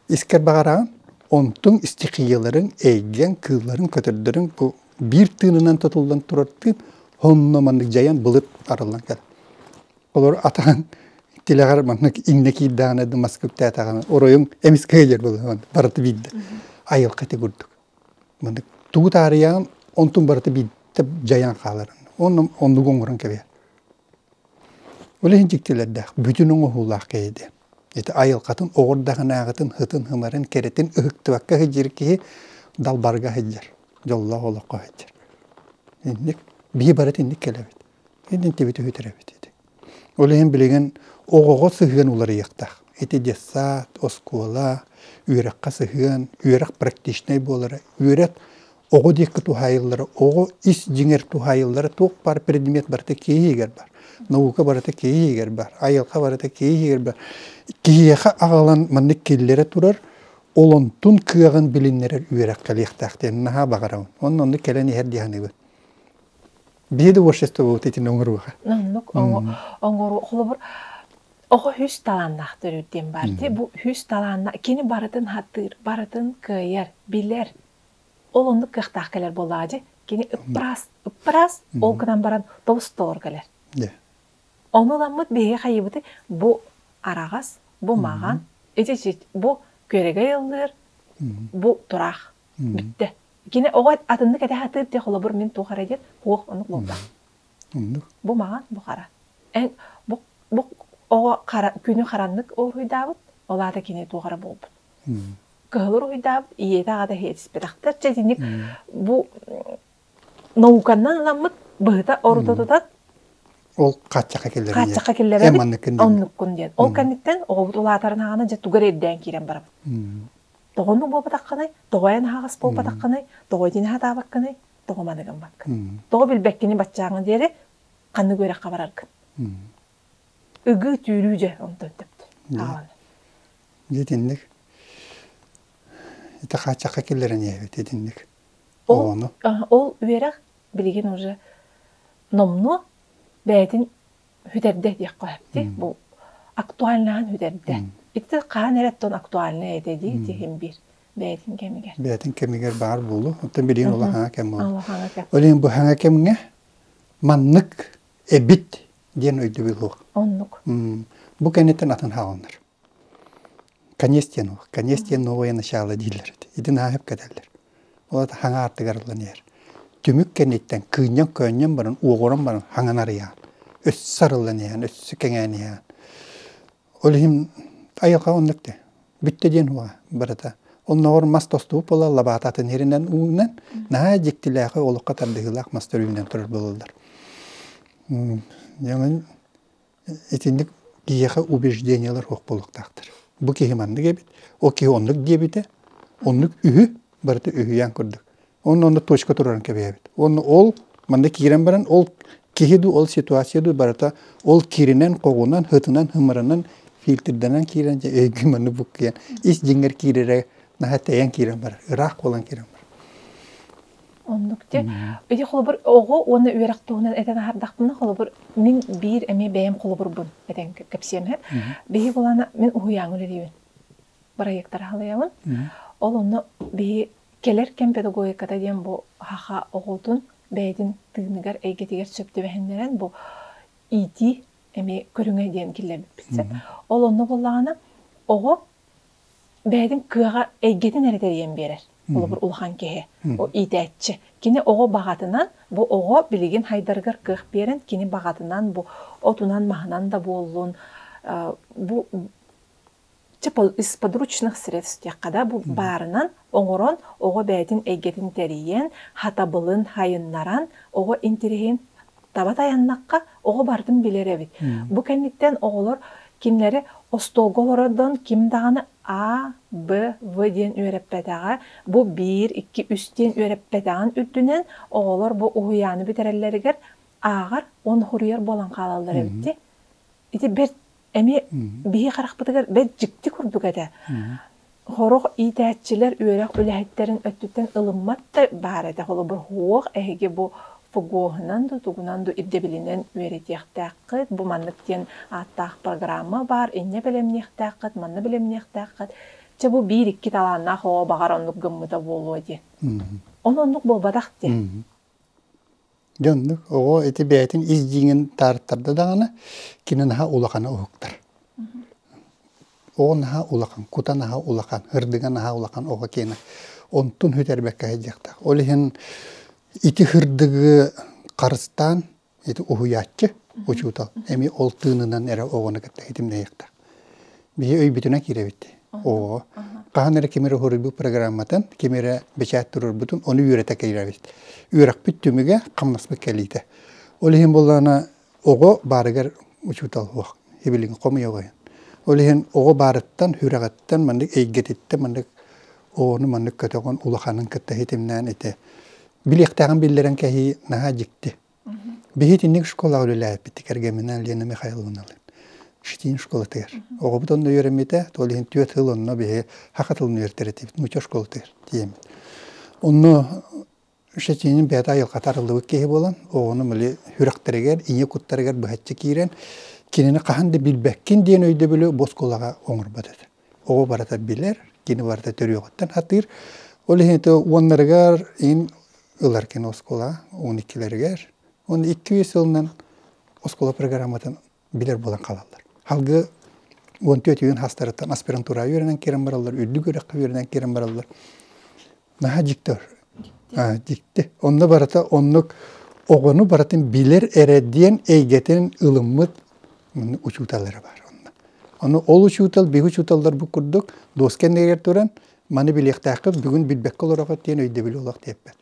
Искэр баҕараҕын, онтуҥ истихияларыҥ, эйгэҥ, кыылларыҥ, көтөрдөрүҥ бу биир тыынынан тутуллан турар тыын онно маннык дьайан былыт арыллан кэлэр. Олор атаһын тилэҕэр маннык иҥнэ киирдэҕинэ да мас куптээтэҕинэ оройуҥ эмис кыайар болуһун барыта биирдэ айылҕатык курдук маннык тугу таарыйаҕын онтун барыта биирдэ дьайан хаалар онно оннук оҥорон кэбиһэр ол иһин дьиктилэрдээх бүтүн оҥоһуулаах киһи диэн ити айылҕатын оҕурдаҕынааҕытын һытын һымарын кэрэтин ыһыктыбакка сылдьар киһи далбарга сылдьар дьоллоох олоххо сылдьар инник биһи барыта инник кэлэбит Идентибит үһүтэрэбит ити. Ол иһин билигин оҕоҕо сыһыан уларыйыахтаах. Ити детсад, оскуола, үөрэххэ сыһыан, үөрэх практичнай буолара, үөрэх оҕо диэки туһаайыллара, оҕо ис дьиҥэр туһаайыллара туох баар предмет барыта киһи иһигэр бар. Наука барыта киһи иһигэр бар, айылҕа барыта киһи иһигэр бар. Киһиэхэ аҕалан маннык киллэрэ турар, олонтун кыаҕын билиннэрэр үөрэх кэлиэхтээх диэн наһаа баҕарабын. Онно оннук кэлэн иһэр дии саныыбын. биир творчество буолут итин оҥорууга оҥоруу холобур оҕо үһүс талааннаахтар диэн баардыы бу үһүс талаанна кини барытын хаттыыр барытын кыайар билэр ол оннук кыахтаах кэлэр буоллаҕа дьи кини ыппраас ыппраас ол гынан баран тобустолор кэлэр ону ламмыт биһиги хайыбыты бу араҕас бу маған ити бу күөрэгэй ыллыыр бу тураах Бүттэ. Кини оҕо атыннык этэ сатыыр дии, холобур, мин туох эрэ диэн, куох оннук луҥках. Оннук. Бу маҥан, бу хара. Эн бу, бу оҕо хара, күнү хараннык уруһуйдаабыт, ол аата кини туох эрэ буолбут. Кыһыл уруһуйдаабыт, ийэтэ аҕата иэтиспэтэхтэр. Чэ итинник бу науканан ыламмыт быһыта орута тутан ол хааччахха киллэрэн хааччахха киллэрэбит оннуккун диэн. Ол кэнниттэн оҕобут улаатарын аҕана дьэ тугар ирдээн киирэн барабыт. тоҕону буолбатаххыный, тоҕо эн аһаҕас буолбатаххыный, тоҕо итини сатаабаккыный, тоҕо маны гыммаккын, тоҕо билбэккини баччааҥҥын диэри ханнык үөрэххэ бараргын. Ыгыы түүрүү дьэ онтон төптө хаалан. Итинник ити хааччахха киллэрэн иһэбит итинник. Ол, ол үөрэх билигин уже номнуо бэйэтин Үтэрдэ диэххэ сөптүү. Бу актуальнаһан үтэрдэ. Ити хаһан эрэ тон актуальнай этэ дии тиһим биир бэйэтин кэмигэр. Бэйэтин кэмигэр баар буолу. Оттон билигин улахаҥа кэм буолу. Улахаҥа кэм. Олин быһаҥа кэмҥэ маннык эбит диэн өйдөбүл луох. Оннук. Бу кэнниттэн атын хаалыннар. Конец диэн уол, конец диэн новое начало дииллэр ити. Итин ааһып кэтэллэр. Ол аата хаҥа артыгар ылан иһэр. Түмүк кэнниттэн кыынньан-көөнньөн баран, уоҕуран баран хаҥан арыйаан, өссө арыллан иһээн, өссө кэҥээн иһээн. Ол иһин айылҕа оннук этэ. Бүттэ диэн уоҕа барыта. Оннооҕор мас тостубут буолла, лабаата атын иһэринэн ууннан, наһаа дьиктилээхи олоххо тардыһыылаах мас төрүүнүнэн турар буолаллар. Дьоҥун итинник киһиэхэ убеждениелар суох буолуохтаахтар. Бу киһи маннык эбит, ол киһи оннук диэбитэ, оннук үһү, барыта үһүйээн курдук. Онно онно точка турарын кэбиһэбит. Уонна ол манна киирэн баран ол киһи дуу, ол ситуация дуу барыта ол киринэн, хоҕунан, хытынан, хымырынан, фильтрдэнэн киирэн дьэ өйгү манны буккуйан ис дьиҥэр киирэрэ наһаа тэйэн киирэн барар, ыраах буолан киирэн барар. Оннук дьэ. Ити холобур оҕо уонна үөрэх туһунан этэн аһардахпына, холобур, мин биир эмиэ бэйэм холобурбун этэн кэпсиэм иһин. Биһиги болаана мин уһуйааҥҥа үлэлиибин. Бырайыактары халыйабын. Ол онно биһи кэлэр кэм педагогиката диэн бу ХАХА оҕотун бэйэтин тыыныгар, эйгэтигэр сөп түбэһиннэрэн бу иитии эмиэ көрүҥэ диэн киллэрбиппит сөп. Ол онно буоллаҕына оҕо бэйэтин кыаҕа эйгэтин эрэ тэрийэн биэрэр. Холобур, улахан киһи, иитээччи. Кини оҕо баҕатынан, бу оҕо билигин хайдарыгар кыах биэрэн, кини баҕатынан, бу отунан-маһынан да буоллун, бу исподручных средств диэххэ да, бу баарынан оҥорон, оҕо бэйэтин эйгэтин тэрийэн, хатабылын хайыннаран, оҕо интириһин таба тайаннахха оҕо барытын билэр эбит. Бу кэнниттэн оҕолор кинилэри остуолга олорордон ким даҕаны А, Б, В диэн үөрэппэтэҕэ, бу биир, икки, үс диэн үөрэппэтэҕин үрдүнэн оҕолор бу уһуйааны бүтэрэллэригэр ааҕар уонна суруйар буолан хаалаллар эбит Ити бэрт эмиэ биһи харахпытыгар бэрт дьикти курдук этэ. Сорох иитээччилэр үөрэх үлэһиттэрин өттүттэн ылыммат да баар этэ холобур суох эһиги бу ФГОһунан да тугунан да ирдэбилинэн үөрэтиэхтээххит бу маннык диэн ааттаах программа баар инньэ бэлэмниэхтээххит манна бэлэмниэхтээххит чэ бу биир икки талааннаах оҕо баҕар оннук гыммыта буолуо дии. Ол оннук буолбатах дии. Дьэ оннук оҕо ити бэйэтин ис дьиҥин таарыттарда даҕаны кини наһаа улахана уһуктар. Оҕо наһаа улахан, кута наһаа улахан, ырдыга наһаа улахан оҕо киэнэ. Онтун бүтэрбэккэ сылдьыахтаах. Ол иһин ити ырдыгы харыстаан ити уһуйааччы, учуутал эмиэ ол тыынынан эрэ оҕону кытта ситимнэһиэхтээх. Биһи өйбүтүнэн киирэбит. Оо, хаһан эрэ ким эрэ уһуруйбут программатын, ким эрэ бэчээт туруорбутун, ону үөрэтэ киирэбит. Үөрэхпит түмүгэ, хамнаспыт кэлиитэ. Ол иһин буоллаҕына оҕо баарыгар учуутал суох. Сибилигин хомуйа оҕойон. Ол иһин оҕо баарыттан, сүрэҕиттэн, маннык эйгэтиттэн маннык оҕону маннык көтөҕөн улаханын кытта ситимнээн ити билиэхтээҕин биллэрэн кэһии наһаа дьикти. Биһитинник школаҕа үлэлээппит кэргэминээн Лена Михайловналыын Шитин школатыгар. Оҕобут онно үөрэммитэ, ол иһин түөрт сыл онно биһи хаха тылын үөрэтэр этибит, нууча школатыгар тиийэммит. Онно Шитинин бэйэтэ айылҕата арыллыбыт киһи буолан, оҕону мөлий сүрэхтэригэр, ийэ куттарыгар быһаччы киирэн, кинини хаһан да билбэккин диэн өйдөбүлү бу оскуолаҕа оҥорбот этэ. оҕо барыта билэр, кини барыта төрүөҕүттэн атыыр. Ол иһин уоннарыгар ин ылар кини оскуола он иккилэригэр. Он икки сылынан оскуола программатын билэр буолан хаалаллар. Халгы он төрт үөн хастарыттан аспирантура үөрэнэн киирэн бараллар, үрдүк үрэххэ үөрэнэн киирэн бараллар. наһаа дьиктор дикти онно барыта оннук оҕону барытын билэр эрэ диэн эйгэтин ылыммыт учууталлара бар онно ону ол учуутал биһи учууталлар бу курдук дуоска кэннигэр туран маны билиэхтээххит бүгүн билбэккэ олорохот диэн өйдөбүл олох диэппэт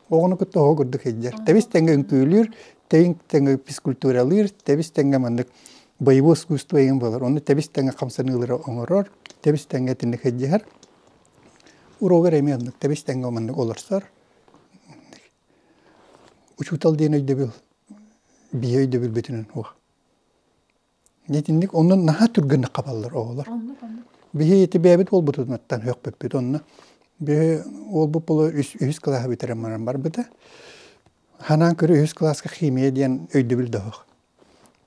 оҕону кытта оҕо курдук сылдьар тэбис тэҥҥэ үҥкүүлүүр тэҥ тэҥҥэ физкультуралыыр тэбис тэҥҥэ маннык боевое искусство эйгин буолар ону тэбис тэҥҥэ хамсаныылары оҥорор тэбис тэҥҥэ итинник сылдьыһар Уруогар эмиэ оннук тэбис тэҥҥэ маннык олорсор. Учуутал диэн өйдөбүл биһиэ өйдөбүл бүтүнэн уох. Итинник оннун наһаа түргэнник хабаллар оҕолор. Биһи ити бэйэбит уолбутутунаттан сөхпүппүт онно. Биһи уолбут буолар үс үһүс кылааһы бүтэрэн баран барбыта. Ханаан көрү үһүс кылааска химия диэн өйдөбүл да оһох.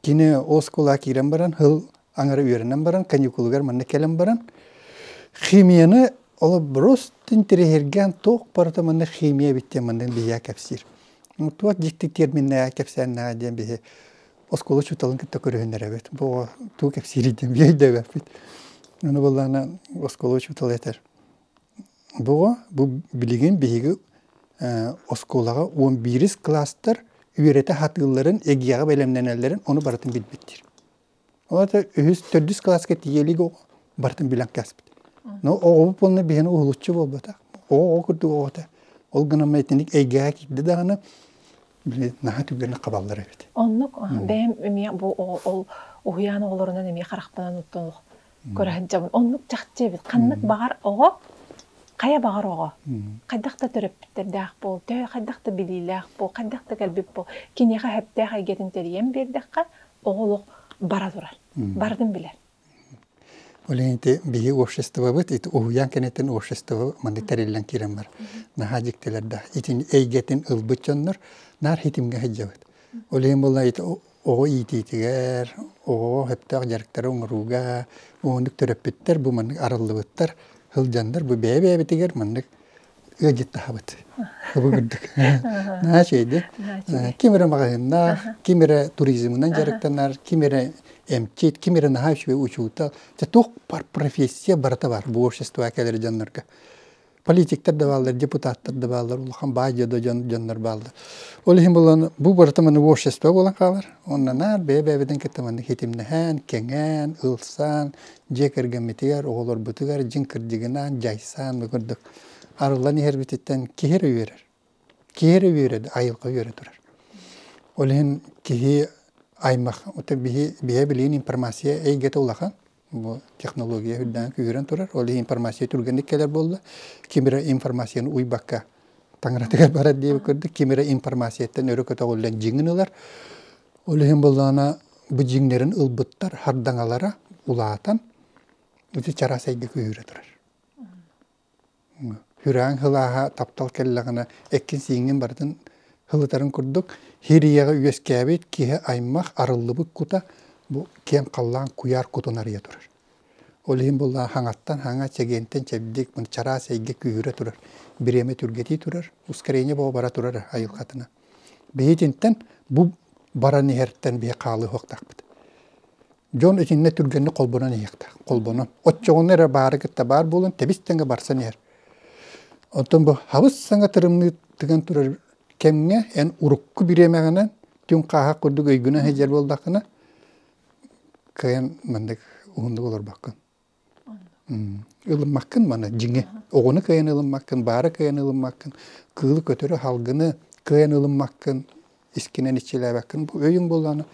Кини оскуола киирэн баран һыл аҥара үөрэнэн баран каникулугар манна кэлэн баран химияны холобуруос интэриэһиргээн туох барыта манна химия эбит диэн манна биһиэхэ кэпсиир. Туох дьикти терминнээҕи кэпсээннээҕэ диэн биһи оскуола учууталын кытта көрүһүннэрэбит. Бу тугу кэпсиирий диэн өйдөбөппүт. Аны буоллаҕына оскуола учуутала этэр Буга билигин биһиги оскуолаҕа уон биирис кылаастар үөрэтэ сатыылларын, эгиэҕэ бэлэмнэнэллэрин ону барытын билбиттэр. Ол аата үһүс, төрдүс кылааска тиийэ илигэ барытын билэн кээспит. Но оҕобут буолла биһиэнэ уһулуччу буолбатах. Оҕо оҕо курдук оҕото. Ол гынан итинник эйгэҕэ киирдэ даҕаны били наһаа түгэнэ хабаллар эбит. Оннук бэйэм эмиэ бу ол уһуйаан оҕолорунан эмиэ харахпынан оттон көрөһөн дьабын оннук чахчы эбит ханнык баҕар оҕо хайа баҕар оҕо хайдах да төрөппүттэрдээх буол төһө хайдах да билиилээх буол хайдах да кэлбит буол киниэхэ сөптөөх эйгэтин тэрийэн биэрдэххэ оҕо олох бара турар бардын билэр Олените биһи обществобыт ити уһуян кенеттен общество манды тэриллен кирен бар наха диктелерда итин эйгетин ылбыт дьоннор наар хитимге хыджабыт Олен болла ити оҕо иитиитигэр, оҕоҕо сөптөөх дьарыктары оҥорууга маннык төрөппүттэр бу маннык арыллыбыттар сылдьаннар бу бэйэ-бэйэбитигэр маннык ыалдьыттаһабыт. Наһаа үчүгэйдик. Ким эрэ маҕаһыыннаах, ким эрэ туризмынан дьарыктанар, ким эрэ эмчит, ким эрэ наһаа үчүгэй учуутал. Дьэ туох профессия барыта баар бу общество кэлэр дьоннорго. политиктар да бааллар, депутаттар да бааллар, улахан баайдыа да дьон, дьоннор бааллар. Ол иһин булан бу барыта маны общество буолан хаалар. Онно наар бэйэ-бэйэбитин кытта манны хитимнэһэн, кэҥээн, ылсан, дьиэ кэргэммитигэр, оҕолорбутугар дьиҥ кырдьыгынан дьайсан, бу курдук арыллан иһэрбититтэн киһи эрэ үөрэр. Киһи эрэ үөрэ, айылҕа үөрэ турар. Ол иһин киһи аймах, биһи, биһэ билигин информация эйгэтэ улахан. бу технология үрдээн күүһүрэн турар. Ол иһин информация түргэнник кэлэр буолла. Ким эрэ информацияны уйбакка таҥаратыгар барар диэбит курдук, ким эрэ информацияттан өрө көтөҕүллэн дьиҥин ылар. Ол иһин былаана бу дьиҥнэрин ылбыттар хардаҥалара улаатан, чараас айга күүһүрэ турар. Күрээн һылааһа таптал кэллэҕинэ эккин-сииҥҥин барытын һылытарын курдук һир ийэҕэ үөскээбит киһи аймах арыллыбыт кута бу киэҥ халлаан куйаар кутун арыйа турар. Ол иһин буоллаҕа хаҥаттан хаҥа, чэгиэнтэн чэбдик чараас эйгэ күүһүрэ турар, бириэмэ түргэтии турар, ускорение бөҕө бара турара айылҕатына. Биһи итинтэн бу баран иһэртэн биһи хаалыһыахтаахпыт. Дьон итиннэ түргэнник холбонон иһиэхтээх. Холбонон. Оччоҕуна эрэ баары кытта баар буолан тэбис тэҥэ барсан иһэр. Оттон бу хабыс саҥа тырымныы тыган турар кэмҥэ эн урукку бириэмэҕинэн түҥ хааһах курдук өйгүнэн сылдьар буоллаххына кыайан маннык уһуннук олорбоккун. Ылыммаккын маны дьиҥи. Оҕону кыайан ылыммаккын, баары кыайан ылыммаккын, кыылы көтөрү, аһалгыны кыайан ылыммаккын, искинэн иччилээбэккин. Бу өйүҥ буоллаҕына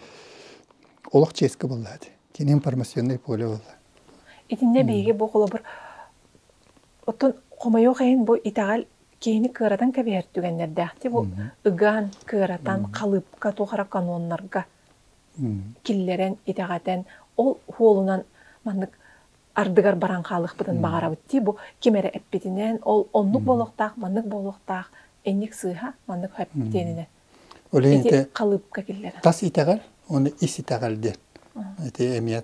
олох чиэскэ буоллаҕа дии. Кини информационнай поле буолла. Итиннэ биһиги бу холобур оттон хомойуох иһин бу итэҕэл киһини кыаратан кэбиһэр түгэннэрдээх дии. Бу ыгаан, кыаратан, халыыпка, туох эрэ каноннарга киллэрэн, итэҕэтэн, ол уолунан маннык ардыгар баран хаалыахпытын баҕарабыт дии бу ким эрэ эппитинэн ол оннук буолуохтаах маннык буолуохтаах инник сыыһа маннык эппитиэнинэн ити халыыпка киллэрэн тас итэҕэл уонна ис итэҕэл диэн ити эмиэ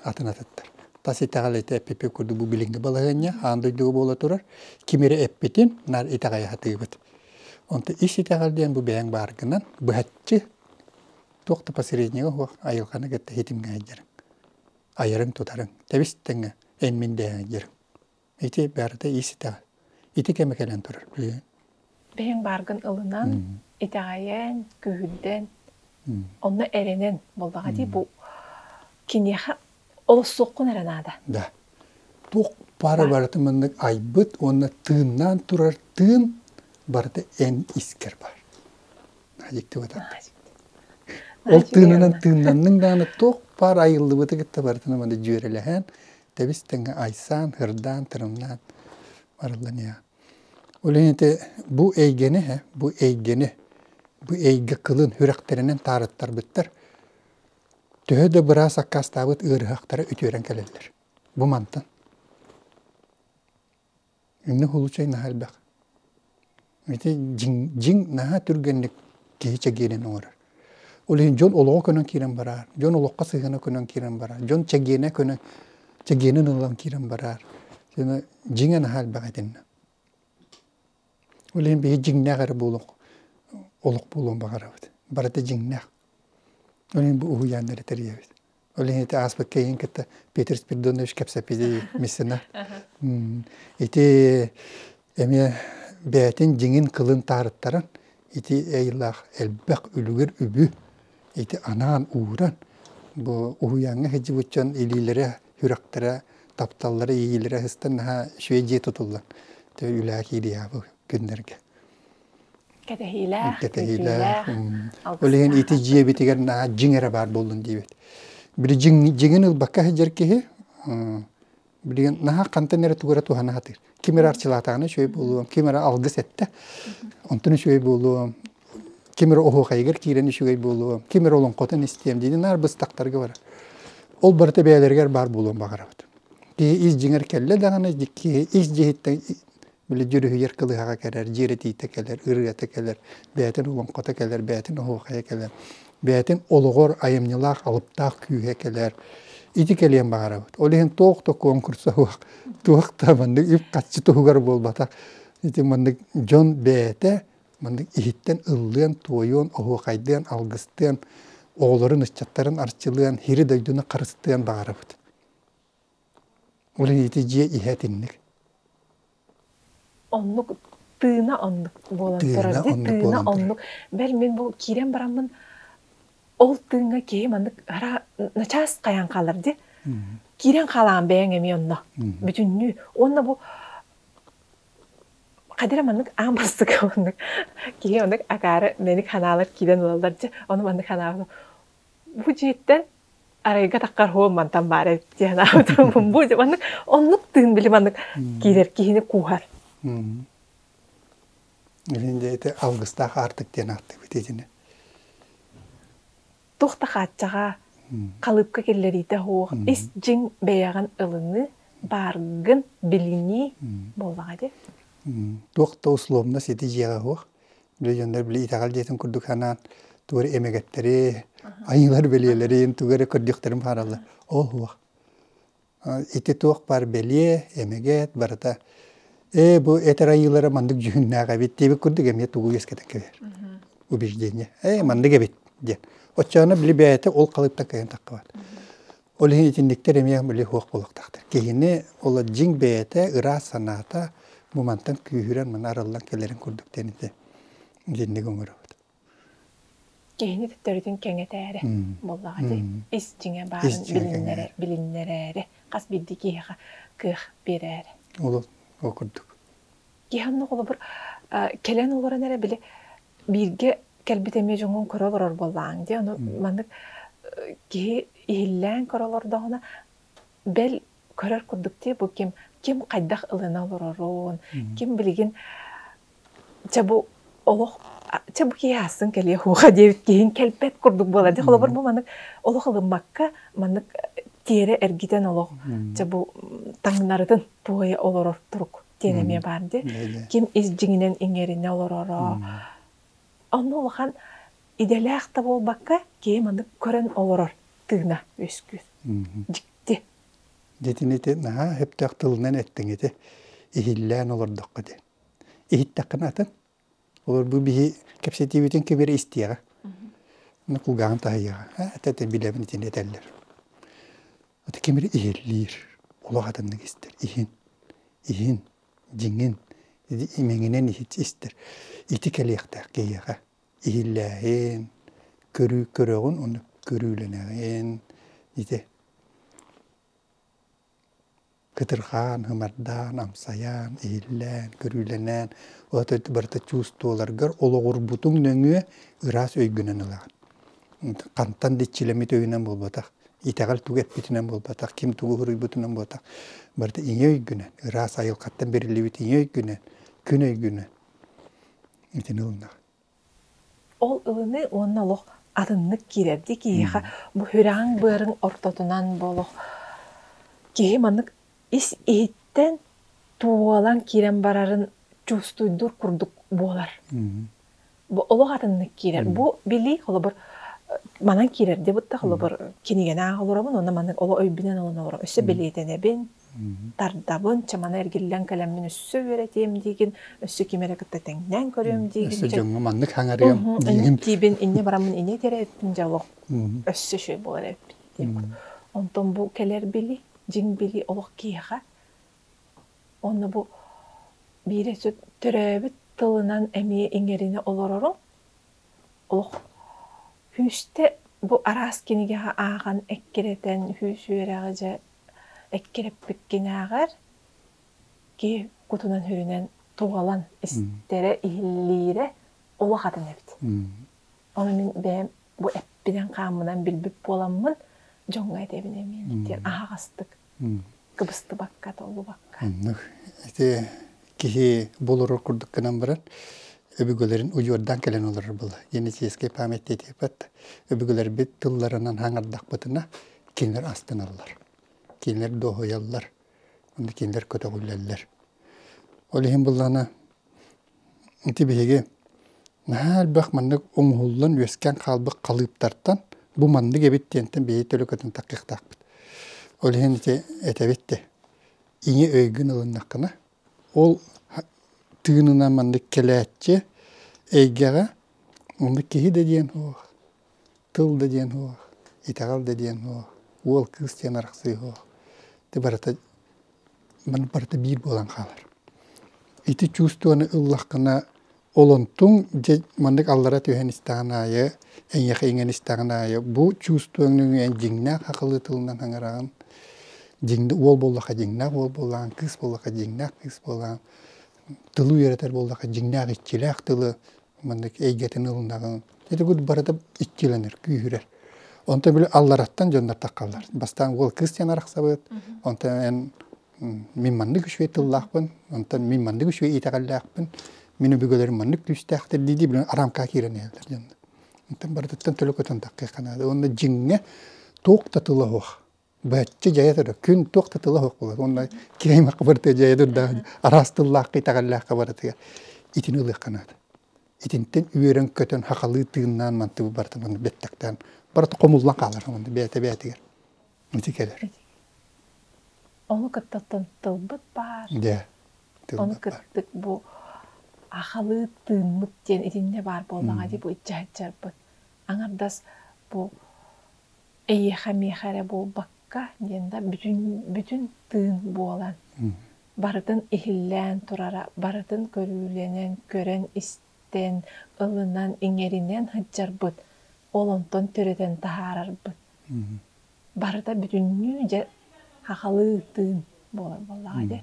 атын атыттар тас итэҕэл ити эппиппит курдук бу билиҥҥи балаһыанньа аан дойдуга буола турар ким эрэ эппитин наар итэҕэйэ сатыыбыт онтон ис итэҕэл диэн бу бэйэҥ бааргынан быһаччы туох да посреднига уох айылҕаны кытта ситимҥэһэйдэриҥ айарын тутарыҥ тэбис-тэҥҥэ эн мин дэһэйдэриҥ ити барыта ис итэҕэл ити кэмэ кэлэн турар билигин бэйэҥ бааргын ылынан итэҕэйэн күүһүрдэн онно эрэнэн буоллаҕа дии бу киниэхэ олохсуоххун эрэ наада. Да. Туох бары барытын маннык айбыт уонна тыыннаан турар тыын барыта эн искэр баар. Ол тыынынан тыыннанныҥ даҕаны туох баар айыллыбыты кытта барытынан маны дьүөрэлэһэн тэбис тэҥҥэ айсаан, һырдаан, тырымнаан барылланыа. Олените бу эйгэни бу эйгэни, бу эйгэ кылын үрэхтэринэн таарыттарбыттар төһө да быраас аккаастаабыт ыарыһахтара үтүөрэн кэлэллэр. Бу мантан. Инни хулучай наһаа элбэх. Ити дьиҥ, дьиҥ наһаа түргэнник киһи чэгиэнин оҥорор. Ол иһин дьон олоҕо көнөн киирэн бараар, дьон олоххо сыһыана көнөн киирэн бараар, дьон чэгиэнэ көнөн, чэгиэнин ылан киирэн бараар. Дьиҥэ наһаа элбэх итиннэ. Ол иһин биһи дьиҥнээх эрэ буолуох олох буолуон баҕарабыт. Барыта дьиҥнээх. Ол иһин бу уһуйааннары эрэ тэрийэбит. Ол иһин ити ааспыт кэйиин кытта Петр Спиридонович кэпсэппитий Миссина ити эмиэ бэйэтин дьиҥин кылын таарыттаран ити эйэлээх элбэх үлүгэр үбү ити анаан ууран бу уһуйааҥҥа сылдьыбыт дьон илиилэрэ сүрэхтэрэ тапталлара иилэрэ сыстан наһаа үчүгэй дьиэ тутуллан то үлэҕэ киириэҕэ бу күннэргэ кэтэһиилээх кэтэһиилээх ол иһин ити дьиэбитигэр наһаа дьиҥ эрэ баар буоллун диэбит били дьиҥ дьиҥин ылбакка сылдьар киһи Билигин наһаа хантан эрэ тугу эрэ туһана сатыыр. Ким эрэ арчылаатаҕына үчүгэй буолуом, ким эрэ алгыс эттэ, онтон үчүгэй буолуом, ким эрэ оһуохайыгар киирэн үчүгэй буолуом, ким эрэ олоҥхотун истиэм диэни наар быстахтарга барар. Ол барыта бэйэлэригэр баар буолуон баҕарабыт. Киһи ис дьиҥэр кэллэ даҕаны, киһи ис дьиһиттэн били дьүрүһүйэр кылыһаҕа кэлэр дьиэрэтиитэ кэлэр ырыата кэлэр бээтин олоҥхото кэлэр бээтин оһуохайа кэлэр бээтин олоҕор айымньылаах алыптаах күүһэ кэлэр ити кэлиэн баҕарабыт ол иһин туох да конкурса суох туох да маннык үп-харчы туһугар буолбатах ити маннык дьон бэйэтэ маннык иһиттэн ыллыан туойуон оһуохайдыан алгыстыан оҕолорун ыччаттарын арчылыан сири дойдуну харыстыан баҕарабыт Ол иһити дьиэ иһэ итинник. Оннук тыына оннук буолан турар. Тыына оннук. Бэл мин бу киирэн бараммын ол тыыҥҥа киһи маннык ара начаас хайаан хаалар дии. Киирэн хаалаан бэйэҥ эмиэ онно. Бүтүннүү. Уонна бу Хадира маннык аан бастакы оннук. Киһи оннук акаары мэник ханаалар киирэн ылаллар дии. Ону маннык ханаалар Бу дьиэттэн арайга таххар һуо мантан баара диэн аатырбын бу маннык оннук тыын били маннык киирэр киһини кууһар. Илин дьиэти алгыстаах аартык диэн ааттыыбыт итини. Тух да хааччаҕа, халыыпка киллэриитэ суох ис дьиҥ бэйэҕин ылыныы, бааргын билинии буоллаҕа дии. Туох да условно сити дьиэҕэ суох. легионер били итэҕэл дьиэтин курдук санаан тугу эрэ эмэгэттэри айыылар бэлиэлэрин тугу эрэ көрдүөхтэрин баҕараллар ол уох ити туох баар бэлиэ эмэгэт барыта ээ бу этэр айыылара маннык дьүһүннээх эбит диэбит курдук эмиэ тугу үөскэтэн кэбиһэр убеждение ээ маннык эбит диэн оччоҕуна били бэйэтэ ол халыыптан кэлэн таххыбат Ол иһин итинниктэр эмиэ били суох буолуохтаахтар. Киһини ол дьиҥ бэйэтэ ыраас санаата бу мантан күүһүрэн маны арыллан кэлэрин курдук диэн ити итинник оҥоробут. Киһини төттөрүтүн кэҥэтээри буоллаҕа дии. Ис дьиҥэ баарын билиннэрэ билиннэрээри хас биирдии киһиэхэ кыах биэрээри. Ол ол курдук. Киһи онно холобур кэлэн олорон эрэ били бииргэ кэлбит эмиэ дьоҥҥун көрө олорор буоллаҕыҥ дии. Ону маннык киһи иһиллээн көрө олордоҕуна бэл көрөр курдук дии бу ким ким хайдах ылына олорорун, ким билигин чэ бу олох чэ бу киһи аассын кэлиэ һуха диэбит киһин кэлбэт курдук буолар дии. Холобур бу маннык олох ылыммакка маннык тиэрэ эргитэн олох чэ бу таҥнарытын туойа олорор турук. диэн эмиэ баар дии. Ким ис дьиҥинэн иҥэринэ олороро. Онно улахан идэлээх да буолбакка, киһи маннык көрөн олорор тыына үскүүс. Дьикти. Дитин ити наһаа өптөх тылынан эттиҥ ити. Иһиллээн олордоххут. Иһиттэххинэ атын. Олорбут биһи кэпсэтиибитин кэбиэрэ истиэҕэ. Аны кулгааҕын таһыйыаҕа. Ээ этэ этэ билэбин итини этэллэр. Аты ким эрэ иһиллиир. Олох атыннык истэр. Иһин. Иһин. Дьиҥин. Имэҥинэн истэр. Ити кэлиэхтээх киһиэхэ. Иһиллээҕин, көрүү көрөҕүн уонна көрүүлэнэҕин ити кытырҕаан, ымардаан, амсайаан, иһиллээн, көрүүлэнэн, ото барыта чувстволаргар олоҕурбутуҥ нөҥүө ыраас өйгүнэн ылаҕын. Хантан да иччилэммит өйүнэн буолбатах, итэҕэл тугу эппитинэн буолбатах, ким тугу суруйбутунан буолбатах, барыта ийэ өйгүнэн, ыраас айылҕаттан бэриллибит ийэ өйгүнэн, күн өйгүнэн итини ылынар. Ол ылыныы уонна олох атыннык киирэрдии киһиэхэ бу үрээҥ-быарыҥ ортотунан бу олох киһи маннык ис иһиттэн туолан киирэн барарын чувствуйдуур курдук буолар. Бу олох атыннык киирэр. Бу билии холобур манан киирэр диэ бытта холобур кинигэнээх олоробун уонна маннык олох өйбүнэн ылан олором. Өссө бэлиэтэнэбин, Тардабын, чымана эргиллэн кэлэммин өссө үөрэтиэм диигин, өссө ким эрэ кытта тэҥнээн көрүөм диигин. Өссө дьэ дьоҥҥо маннык хаҥарыам диигин. Диибин инньэ бараммын инньэ этэрэ эппин дьэ олох өссө үчүгэй буолар эппит диэм. Онтон бу кэлэр били, дьиҥ били олох киһиэхэ онно бу биирэ төрөөбүт тылынан эмиэ иҥэринэ олороро олох күүстэ бу араас кинигэҕэ ааҕан эккирэтэн, күүс үөрэҕи дьэ эккирэппиккинээҕэр киһи кутунан-сүрүнэн тугалан истэрэ, иһиллиирэ улахатын эбит. Ону мин бэйэм бу эппинэн-хааммынан билбит буоламмын дьоҥҥо этэбин эмиэ диэн аһаҕастык кыбыстыбакка, толлубакка. Оннук. Ити киһи булуру курдук гынан баран өбүгэлэрин удьуордаан кэлэн олорор була. Генетическэй память диэтиппэт өбүгэлэрбит тылларынан хаҥардахпытына кинилэр астыналлар, кинилэр дуоһуйаллар, уонна кинилэр көтөҕүллэллэр. Ол иһин быллана ити биһиги наһаа элбэх маннык оҥоһуллан үөскээн хаалбыт халыыптартан бу маннык эбит диэнтэн биһиги төлөкөтүн таккыктаахпыт. Ол иһин ити этэбит ди, ийэ өйгүн ылыннаххына Ол тыынынан маннык кэлээччи эйгэҕэ онно киһи да диэн суох, тыл да диэн суох, итэҕэл да диэн суох, уол кыыс диэн арахсыы суох. Ити барыта маны барыта биир буолан хаалар. Ити чувствоны ыллаххына Олонтуҥ дьэ маннык аллара түһэн истэҕин аайы, эйэхиҥэн истэҕин аайы бу чувствуҥ нөҥүө дьиҥнээх хахылыы тылынан хаҥыраҕын, дьиҥ уол буоллахха дьиҥнээх уол буоллаҕын, кыыс буоллахха дьиҥнээх кыыс буоллаҕын, тылы үөрэтэр буоллахха дьиҥнээх иччилээх тылы маннык эйгэтин ылынаҕын. Дьэ барыта иччилэнэр, күүһүрэр. Онтон били аллараттан дьоннор таххаллар. Бастаан уол кыыс диэн арахсабыт, онтон эн Мин маннык үчүгэй тыллаахпын, онтон мин маннык үчүгэй итэҕэллээхпин, мин өбүгэлэрим маннык күүстээхтэр дии-дии билэн арамкаҕа киирэн иһэллэр дьонно. Оттон барытыттан төлө көтөн таххыахха наада. Уонна дьиҥҥэ туох да тыла суох. Бачча дьайа турар, күн туох да тыла суох буолар. Уонна киһи аймахха барытыгар дьайа турдаах, араас тыллаахха, итэҕэллээххэ барытыгар итини ылыахха наада. Итинтэн үөрэн-көтөн, хахалыы тыыннаан мантыбы барытын бэттэхтээн барыта хомуллан хаалар бэйэтэ-бэйэтигэр. Ити кэлэр. Ону кытта тылбыт баар. Да. Ону кыттык бу ахалыы тыыммыт диэн итиннэ баар буоллаҕа дии бу ыччатчарбыт. Аҥардас бу эйиэхэ миэхэ эрэ буолбакка диэн да бүтүн бүтүн тыын буолан барытын иһиллээн турара барытын көрүүлэнэн көрөн диэн ылынан иҥэринэн сылдьарбыт, ол онтон төрөтөн таһаарарбыт. Барыта бүтүннүү дьэ сахалыы тыын буолар буоллаҕа дьэ.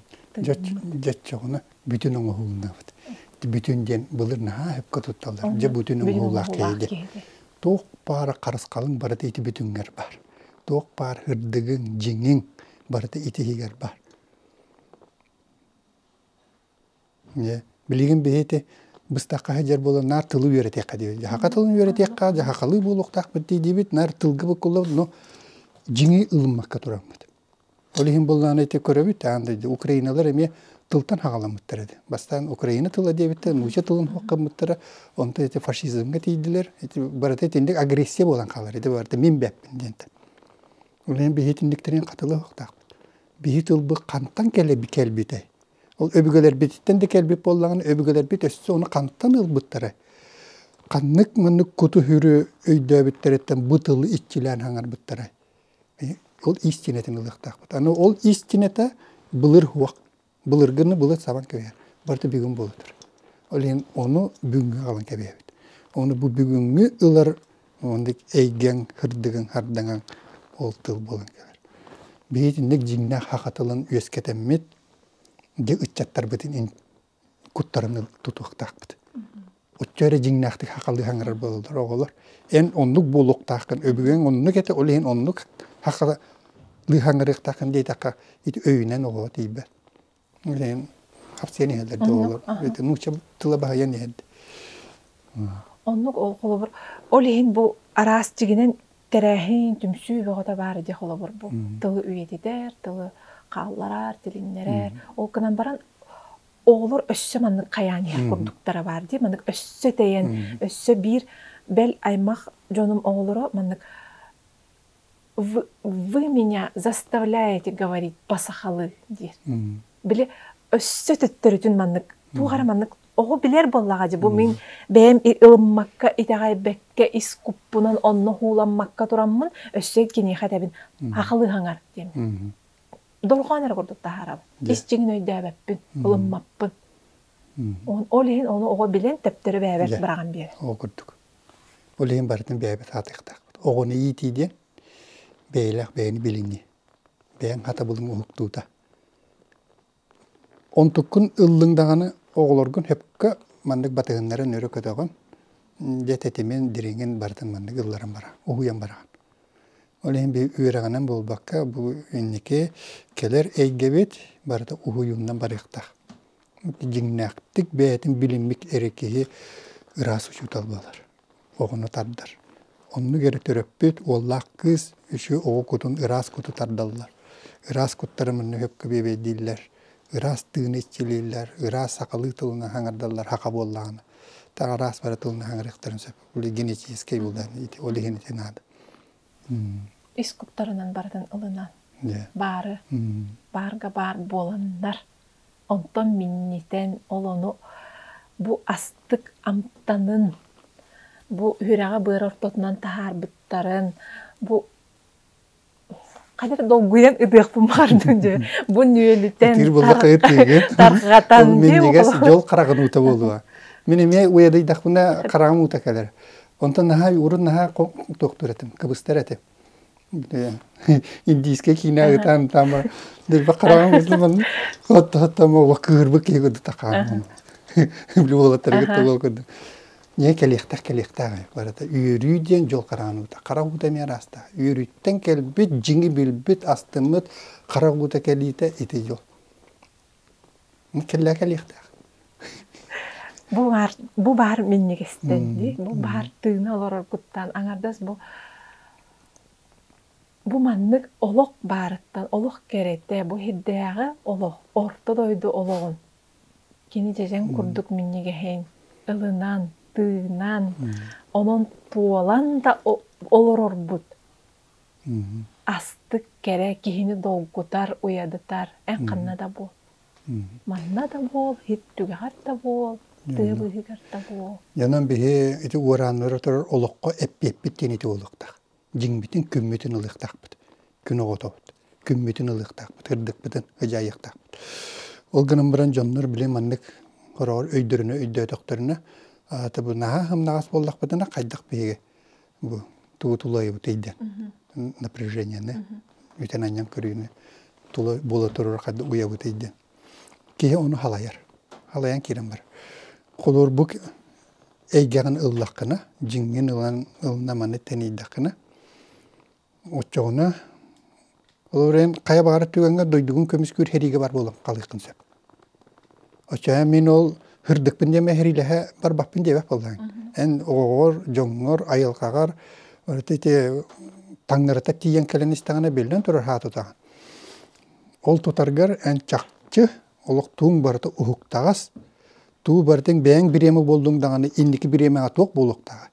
Дьоччоҕуна бүтүн оҥоһууланабыт. Бүтүн диэн былыр наһаа сөпкө тутталлар. Дьэ бүтүн оҥоһуулаах киһи Туох баара харысхалын барыта ити бүтүҥҥэр баар. Туох баар ырдыгыҥ, дьиҥиҥ барыта ити иһигэр баар. Дьэ билигин биһи ити быстахха сылдьар буолан наар тылы үөрэтиэххэ диэбит. Дьаһака тылын үөрэтиэххэ, дьаһахалыы буолуохтаах бит дии диэбит, наар тылга буккуллабыт, но дьиҥи ылыммакка тураммыт. Ол иһин буоллаҕына ити көрөбүт аан дойду украиналар эмиэ тылтан хаҕаламмыттара дии. Бастаан украина тыла диэбиттэр, нуучча тылын суох гыммыттара, онтон ити фашизмҥа тиийдилэр. Ити барыта итинник агрессия буолан хаалар ити барыта мин бэппин диэнтэн. Ол иһин биһи итинниктэрин хатыла суохтаахпыт. Биһи тылбыт хантан кэлбитэй? Ол өбүгэлэрбититтэн да кэлбит буоллаҕына, өбүгэлэрбит өссө ону хантан ылбыттара, ханнык маннык куту-сүрү өйдөөбүттэриттэн бу тылы иччилээн хаҥарбыттара. Ол истинэтин ылыахтаахпыт. Аны ол истинэтэ былыр уох, былыргыны былыр сабан кэбиһэр. Барыта бүгүн буолар. Ол иһин ону бүгүҥҥү хаалан кэбиһэбит. Ону бу бүгүҥҥү ылар Оннук эйгэҥ, кырдыгыҥ, хардаҥаҥ ол тыл буолан кэлэр. Биһи итинник дьиҥнээх хахха тылын үөскэтэммит дьэ ыччаттарбытын куттарын тутуохтаахпыт. Оччо эрэ дьиҥнээхтик хахалыы хаҥырар буолаллар оҕолор. Эн оннук буолуохтааххын, өбүгэҥ оннук этэ, ол иһин оннук хахалыы хаҥырыахтааххын диэтэххэ ити өйүнэн оҕоҕо тиийбэт. Билигин хапсыйан иһэллэр да оҕолор. Эти нуучча тыла баһыйан иһэллэр. Оннук холобур. Ол иһин бу араас дьигинэн тэрээһин, түмсүү бөҕөтө баара дии холобур бу. Тылы үйэтитэр, тылы хаалларар, тилиннэрэр. Ол гынан баран оҕолор өссө маннык хайаан иһэр курдуктара баар дии. Маннык өссө тэйэн, өссө биир бэл аймах дьонум оҕолоро маннык вы, вы меня заставляете говорить по-сахалыы диир. Били өссө төттөрүтүн маннык туох эрэ маннык оҕо билэр буоллаҕа дии бу мин бэйэм ылыммакка итэҕэйбэккэ ис куппунан онно ууламмакка тураммын өссө киниэхэ этэбин ахалыһаҥар диэм. Долгоон эрэ курдук таһаарабын. Исчиҥин өйдөөбөппүн, ылыммаппын. Ол иһин ону оҕо билэн, төптөрү бэйэбэр быраҕан биэрэр. Ол курдук. Ол иһин барытын бэйэбит аатыахтаахпыт. Оҕону иитии диэн бэйэлээх бэйэни билинии. Бэйэҥ хатабылыҥ уһуктуута. Онтуккун ыллыҥ даҕаны оҕолоргун сөпкө маннык батыһыннаран өрө көтөҕөн, дьэ тэтимин, дириҥин барытын маннык ылларан бараҕын, уһуйан бараҕын. Ол иһин үөрэҕинэн буолбакка бу инники кэлэр эйгэбит барыта уһуйууннан барыахтаах. дьиҥнээхтик бэйэтин билиммит эрэ киһи ыраас учуутал буолар, оҕону тардар. Оннук эрэ төрөппүт, уоллаах кыыс үсү оҕо кутун ыраас куту тардаллар. Ыраас куттары манна хөпкө биэбэйдииллэр, ыраас тыыны иччилииллэр, ыраас сахалыы тылынан хаҥардаллар хаха буоллаҕына. Таах араас бары тылынан хаҥарыахтарын сөп. Ол генетическэй буолан, ол иһин ити наада. ис куттарынан барытын ылынан баары баарга баар буоланнар онтон миннитэн ол ону бу астык амтанын бу үһүрэҕэ быар ортотунан таһаарбыттарын бу хайдах долгуйан ытыахпын баҕардым дьэ бу нүөлүтэн тарҕатан дьол хараҕын уута буолуо мин эмиэ уйадыйдахпына хараҕым уута кэлэр Онтон наһаа урун наһаа туохтуур этим, кыбыстар этим. Индийскэ киинэ ыытаан таама дирбэх хараҕым курдук отто-оттомо кыырбы киһи курдук тахаамын. Били уолаттарыгыт тоҕо курдук. Не кэлиэхтэх кэлиэхтээх барыта үөрүү диэн дьол хараҕын уута хара уута эмиэ ыраастаа үөрүүттэн кэлбит дьиҥи билбит астыммыт хара уута кэлиитэ ити дьол кэллэ кэлиэхтээх бу баар бу баар минньигэстэн дии бу баар тыына олороргуттан аҥардас бу бу маннык олох баарыттан олох кэрэтэ бу ирдээҕи олох орто дойду олоҕун кини дьэдьэн курдук минньигэһин ылынан тыынан онон туолан да олорорбут астык кэрэ киһини долгутар, уйадытар эн ханна да буол. Манна да буол, ит түгэҕэр да буол, тыа быыһыгар да буол. Дьонум биһи ити уорааннара турар олоххо эппиэппит диэн ити буолуохтаах. Дьиҥбитин күммүтүн ылыахтаахпыт. Күн оҕотобут. Күммүтүн ылыахтаахпыт, ырдыкпытын ыдьаайыахтаахпыт. Ол гынан баран дьоннор били маннык хороҕор өйдөрүнэ өйдөөтөхтөрүнэ аата бу наһаа ымнаҕас буоллахпытына хайдах биһиги бу тугу тулайыбыт эйден напряженияны бүтэн анньан көрүүнү тула буола турар хадды уйабыт эйден киһи ону халайар халайан киирэн бар холуор бу эйгэҕин ыллаххына дьиҥҥин ылан ылына маны тэнийдэххинэ оччоҕуна ол эрэн хайа баҕарар түгэҥҥэ дойдугун көмүскүүр сэриигэ бар буолан хаалыаххын сөп. Оччоҕо мин ол һырдыкпын диэм эһириилэһэ барбаппын диэбэт буоллаҕыҥ. Эн оҕоҕор, дьоҥҥор, айылҕаҕар таҥнарыта тиийэн кэлэн истэҕинэ биллэн турар аһаа тутаҕын. Ол тутаргар эн чахчы олох тууҥ барыта уһуктаҕас, туу барытын бэйэҥ бириэмэ буоллуҥ даҕаны инники бириэмэҕэ туох буолуохтааҕый?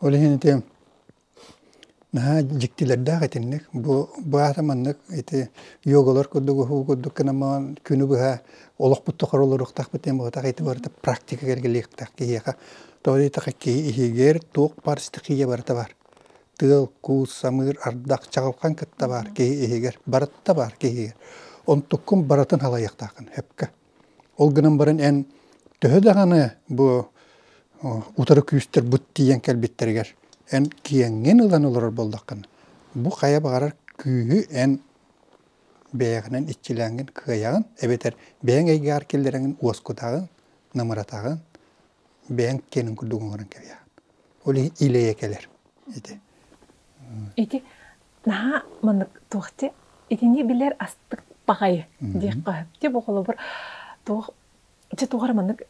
Ол иһин ити наһаа дьиктилэрдээх итинник. Бу быһата маннык ити йогалар курдук уһугу курдук гынан күнү быһа олохпут тухары олоруохтаахпыт диэн быһата ити барыта практика кэргэлиэхтээх киһиэхэ. Тоҕо диэтэххэ киһи иһигэр туох бар стихия барыта баар. Тыал, куус, самыыр, ардах, чаҕылхан кытта баар киһи иһигэр. Барыта баар киһигэ. Онтуккун барытын салайыахтааххын сөпкө. Ол гынан баран эн төһө даҕаны бу утары күүстэр быт тиийэн кэлбиттэригэр эн киэҥҥин ылан олорор буоллаххын бу хайа баҕарар күүһү эн бэйэҕинэн иччилээҥҥин кыайаҕын эбэтэр бэйэҥ эйгэҕэр киллэрэҥҥин уоскутаҕын намыратаҕын бэйэҥ киэнин курдук оҥорон кэбиһэҕин ол иһин илэйэ кэлэр ити ити наһаа маннык туох ти итини билэр астык баҕайы диэххэ сөп. оҕолобур туох дьэ туох эрэ маннык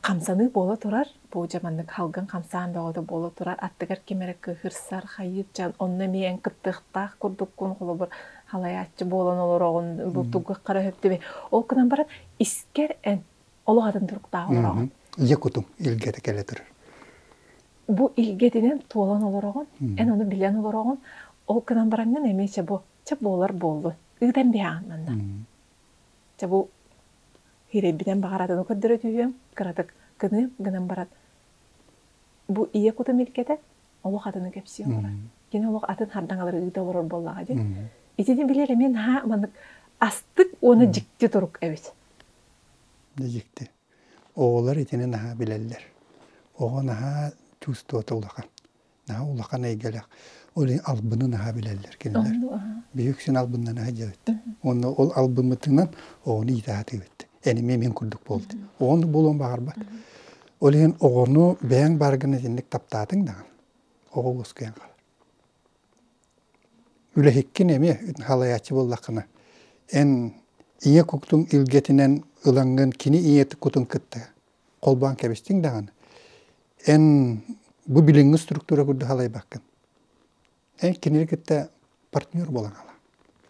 хамсаныы буола турар бу дьэ маннык халгын хамсаан бөҕөтө буола турар аттыгар ким эрэ кыыһырсар хайыычан онно эмиэ эн кыттыахтаах курдуккун холобур халайааччы буолан олороҕун бу тугу хара сөптүбүн ол гынан баран искэр эн олох атын туруктаах олороҕун дьэ кутуҥ илгэтэ кэлэ турар бу илгэтинэн туолан олороҕун, эн ону билэн олороҕун, ол гынан бараҥҥын эмиэ чэ бу чэ буолар буоллун, ыытан биһэҕин манна. Чэ бу хиирэйбитин баҕаратыны көрдөрө түһүөм, кыратык гыныым гынан баран бу ийэ кутун илгэтэ олох атыны кэпсиэ олорор. Кини олох атын хардаҥалары ыыта олорор буоллаҕа дии. Итини билэр эмиэ наһаа маннык астык уонна дьикти турук эбит. Дьикти. Оҕолор итини наһаа билэллэр. Оҕо наһаа чувствота улахан. Наһаа улахан эйгэлээх. Ол албыны наһаа билэллэр кинилэр. Биһи үксүн албыннана сылдьабыт. Уонна ол албыммытынан оҕону иитэ сатыыбыт. Энимиэ мин курдук буолбут. Оҕону буолуон баҕарбат. Ол иһин оҕону бэйэҥ бааргын итинник таптаатыҥ даҕаны, оҕо уоскуйан хаалар. Үлэһиккин эмиэ халайааччы буоллаххына, эн ийэ куттуҥ илгэтинэн ылаҥҥын кини ийэ кутун кытта холбоон кэбистиҥ даҕаны, эн бу билиҥҥи структура курдук халайбаккын. Эн кинини кытта партнер буолан хаалаҕын.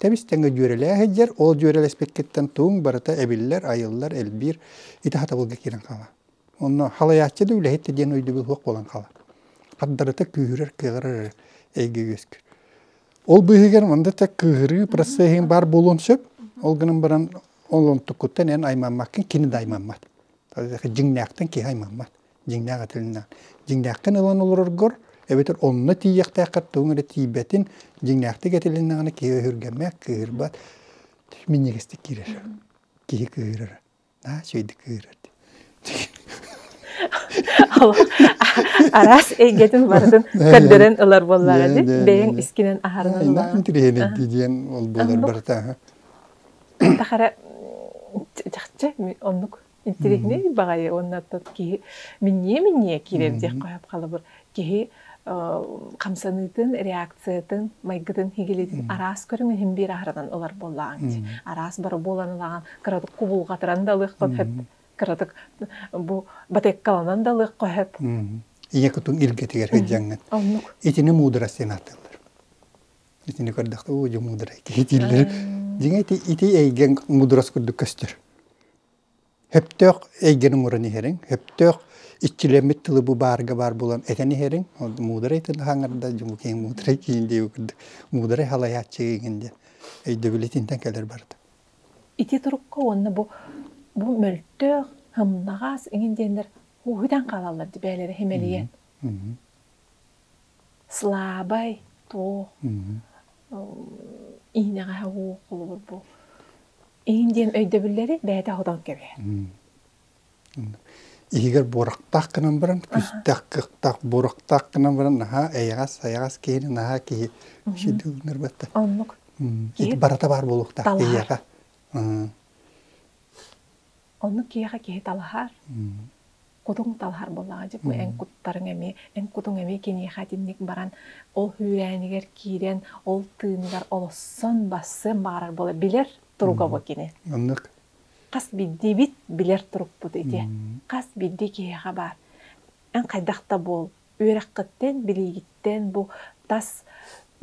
Тэбис тэҥэ дьүөрэлээх сылдьар, ол дьүөрэлэспиккиттэн тугуҥ барыта эбиллэр, айыллар, элбиир, ити хатабылга киирэн хаалаҕын. Онно халайааччы да үлэһит диэн өйдөбүл суох буолан хаалар. Хардарыта күүһүрэр, кыаҕырар эрэ эйгэ үөскүүр. Ол быыһыгар манда так кыыһырыы процеһын баар буолуон сөп. Ол гынан баран ол онтуккуттан эн аймаммаккын кини да аймаммат. Дьиҥнээхтэн киһи аймаммат. Дьиҥнээх этилиннээн. Дьиҥнээхтэн ылан олороргор эбэтэр онно тиийиэхтээххэр тугуҥ эрэ тиийбэтин дьиҥнээхтик этилиннэҕинэ киһи өһүргэммэт, кыыһырбат. Минньигэстик киирэр. Киһи кыыһырара. араас эйгэтин барытын көрдөрөн ылар буоллаҕа дии бэйэҥ искинэн аһарынан диэн ол буолар барыта тахара чахчы оннук интириэһинэй баҕайы уонна киһи минньиэ минньиэ киирэр диэх хаһап халабыр киһи хамсаныытын, реакциятын, майгытын хигилитин араас көрүҥ иһин биир аһарынан ылар буоллаҕыҥ дии. Араас бары буолан ылаҕын, кыратык кубулҕатыран да ылыахха сөп, кыратык бу батыаккаланан да ылыахха сөп. Ийэ кутун илгэтигэр сылдьаҥҥыт. Оннук. Итини муударас диэн ааттыыллар. Итини көрдөххө, уу, дьэ муударай киһи дииллэр. Дьиҥэ ити ити эйгэҥ муударас курдук көстөр. Хөптөөх эйгэни муран иһэриҥ, хөптөөх иччилэммит тылы бу баарга баар булан этэн иһэриҥ, муударай тылы хаҥарда, киһиҥ муударай киһин диэбит курдук, муударай халайааччы киһигин диэн өйдөбүл итинтэн кэлэр барыта. Ити турукка уонна бу бу мөлтөөх, һымнаҕас иҥин диэннэр ууһүтэн хаалаллар бээлэрэ химэлийэн. Слабай, туох, иинэҕэ уу холобур бу. Иин диэн өйдөбүллэри бэйэтэ аһатан кэбиһэр. Иһигэр буорахтаах гынан баран, күстэх, кыхтах, буорахтаах гынан баран, наһаа эйэҕэс, сайаҕас киһини наһаа киһи кişидүү гынар бата. Оннук. Ити барата баар буолуохтаах киһиэхэ. Оннук киһиэхэ киһи талаһар. кутуҥ талаһар буоллаҕа дьэ бу эн куттарыҥ эмиэ эн кутуҥ эмиэ киниэхэ итинник баран ол үүрээнигэр киирэн ол тыыныгар олоссон бассыан баҕарар буолар билэр туруга бу кини маннык хас биирдиибит билэр турукпут ити хас биирдии киһиэхэ баар эн хайдах да буол үөрэххиттэн билиигиттэн бу тас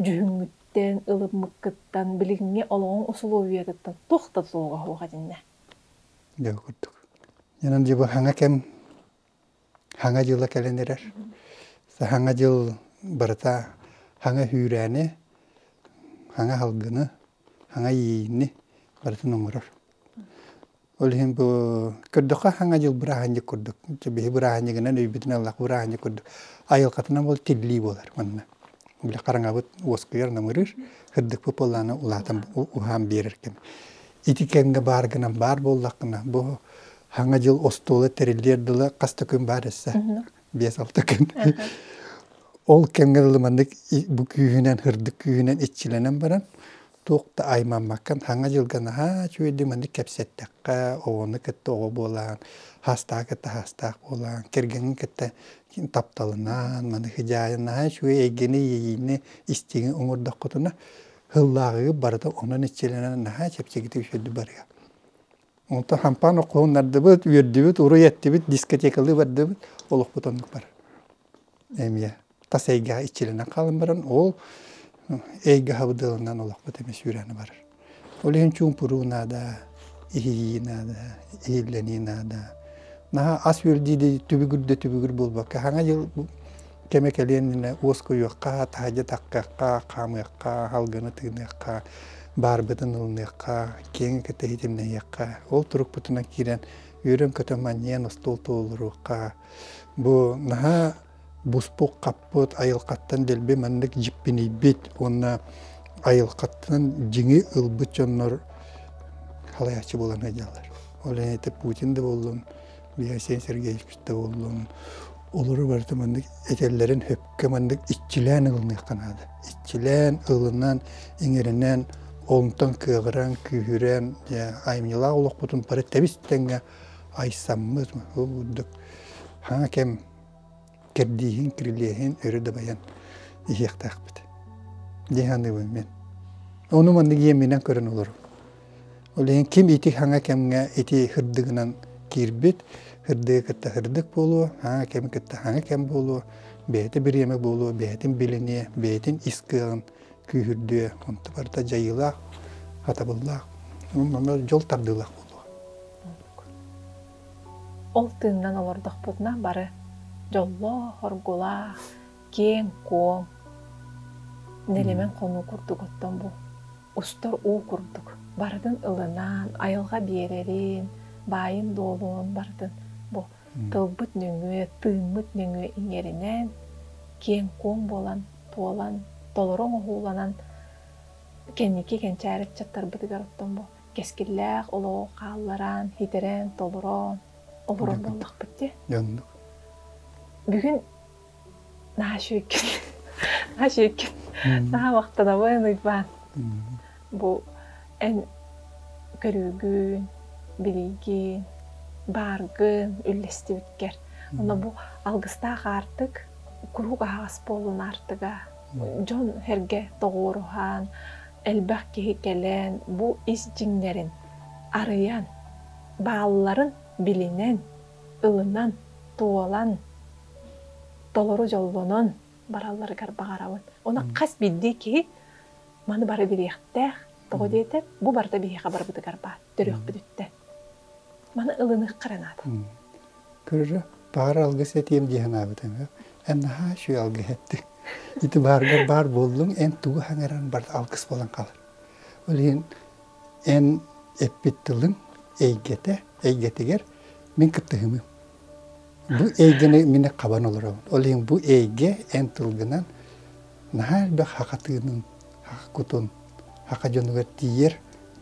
дьүһүҥҥүттэн ылыммыккыттан билиҥҥи олоҕуҥ усулуобуйатыттан туох да тулуга суох этиннэ Дьэ, курдук. Онон дьылы кэм Саҥа дьыла кэлэн эрэр. Саҥа дьыл барыта саҥа сүүрээни, саҥа салгыны, саҥа иэйиини барытын оҥорор. Ол иһин бу көрдөххө саҥа дьыл бырааһынньык курдук. Биһи бырааһынньыгынан өйбүтүн ыллах бырааһынньык курдук. Айылҕатынан ол тиллии буолар манна. Үлэ хараҥабыт уоскуйар намырыыр, кырдыкпыт буоллаана улаатан уһаан биэрэр кэм. Ити кэмҥэ баар гынан баар буоллаххына, бу Саҥа дьыл остуола тэриллиэр дылы хас да күн баар эссе. Биэс-алта күн. Ол кэмҥэ дылы маннык бу күүһүнэн, һырдык күүһүнэн иччилэнэн баран, Туох да аймаммаккын саҥа дьылга наһаа үчүгэйдик маннык кэпсэттэххэ оҕону кытта оҕо буолаан саастаҕы кытта саастаах буолаан кэргэҥҥин кытта тапталынан маны хидьаайан наһаа үчүгэй эйгэни иэйиини истиҥи оҥордоххутуна сыллааҕыга барыта онон иччилэнэн наһаа чэпчэкитик үчүгэйдик барыа Онтон хампаан окуһуннардыбыт, үөрдүбүт, уруй эттибит, дискотекалыы бардыбыт, олохпут оннук бар. Эмиэ тас эйгэҕэ иччилэнэн хаалан баран, ол эйгэ хабдыалынан олохпут эмиэ сүүрээни барар. Ол иһин чуумпуруу наада, иһийии наада, иһиллэнии наада. Наһаа ас үөрдүү да түбүгүр да түбүгүр буолбакка, Саҥа дьыл кэми кэлиэннэ уоскуйуохха, таһадьатаххахха, хаамыахха, алгыны тыыныахха, баарбытын ылыныахха, киэҥи кэтэһитимнэһиэххэ. Ол турукпутунан киирэн үөрөн-көтөн манньыйан остуол туолуруохха. Бу наһаа буспут-хаппыт, айылҕаттан дэлби маннык дьиппинийбит уонна айылҕаттан дьиҥи ылбыт дьоннор халайааччы буолан сылдьаллар. Ол иһин ити Путин да буоллун, Василий Сергеевич да буоллун, олору барыта маннык этэллэрин хөпкө маннык иччилээн ылыныахха наада. Иччилээн, ылынан, иҥэринэн, онтон кыаҕыран, күүһүрэн, айымньылаах олохпутун бары тэбис тэҥҥэ айсаммыт. Ол курдук, хаҥа кэм кэрдииһин, кирилиэһин өрө дабайан иһиэхтээхпит. Дии саныыбын мин. Ону маннык иэминэн көрөн олорум. Ол иһин ким ити саҥа кэмҥэ ити һырдыгынан киирбит, һырдыгы кытта һырдык буолуо, саҥа кэм кытта саҥа кэм буолуо, бэйэтэ бириэмэ буолуо, бэйэтин билиниэ, бэйэтин ис кыаҕын күүһүрдүө, онто барыта дьайыылаах, хатабыллаах, дьол тардыылаах буолуо. Ол тыыннан олордохпутуна бары дьоллоох, оргулаах, киэҥ-куоҥ, нэлэмэн хонуу курдук оттон бу устар уу курдук барытын ылынан айылҕа биэрэрин, баайын-дуолун барытын бу тылбыт нөҥүө, тыыммыт нөҥүө иҥэринэн киэҥ-куоҥ буолан туолан толору оҥоһууланан кэнники кэнчээри ыччаттарбытыгар оттон бу кэскиллээх олоҕу хаалларан, хитэрэн, толорон олорор буоллахпыт дии. Дьоннук. Бүгүн наша еккин наша еккин наабахтанабын ыйбаан бу эн көрүүгүн билиигин бааргын үллэстибиткэр онно бу алгыстаах аартык куруук аһаҕас буолуун аартыга дьон-сэргэ тоҕуоруһан, элбэх киһи кэлэн бу ис дьиҥнэрин арыйан, баалларын билинэн, ылынан, туолан, толору дьоллонон баралларыгар баҕарабын. Онон хас биирдии киһи маны бары билиэхтээх. Тоҕо диэтэр, бу барыта биһиэхэ барбытыгар баар төрүөхпүтүттэн. Маны ылыныахха эрэ наада. Кыра баҕар алгыс этиэм дии санаабытым эн наһаа үчүгэй алгыс эттиҥ ити бааргар баар буоллуҥ эн тугу саҥаран барда алгыс буолан хаалар ол иһин эн эппит тылыҥ эйгэтэ эйгэтигэр мин кыттыһымым бу эйгэни мин хабан олоробун ол иһин бу эйгэ эн тылгынан наһаа элбэх хаха тыынын хаха кутун хаха дьонугар тиийэр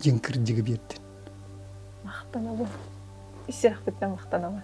дьиҥ кырдьыгы биэрдин махтанабын ис сүрэхпиттэн махтанабын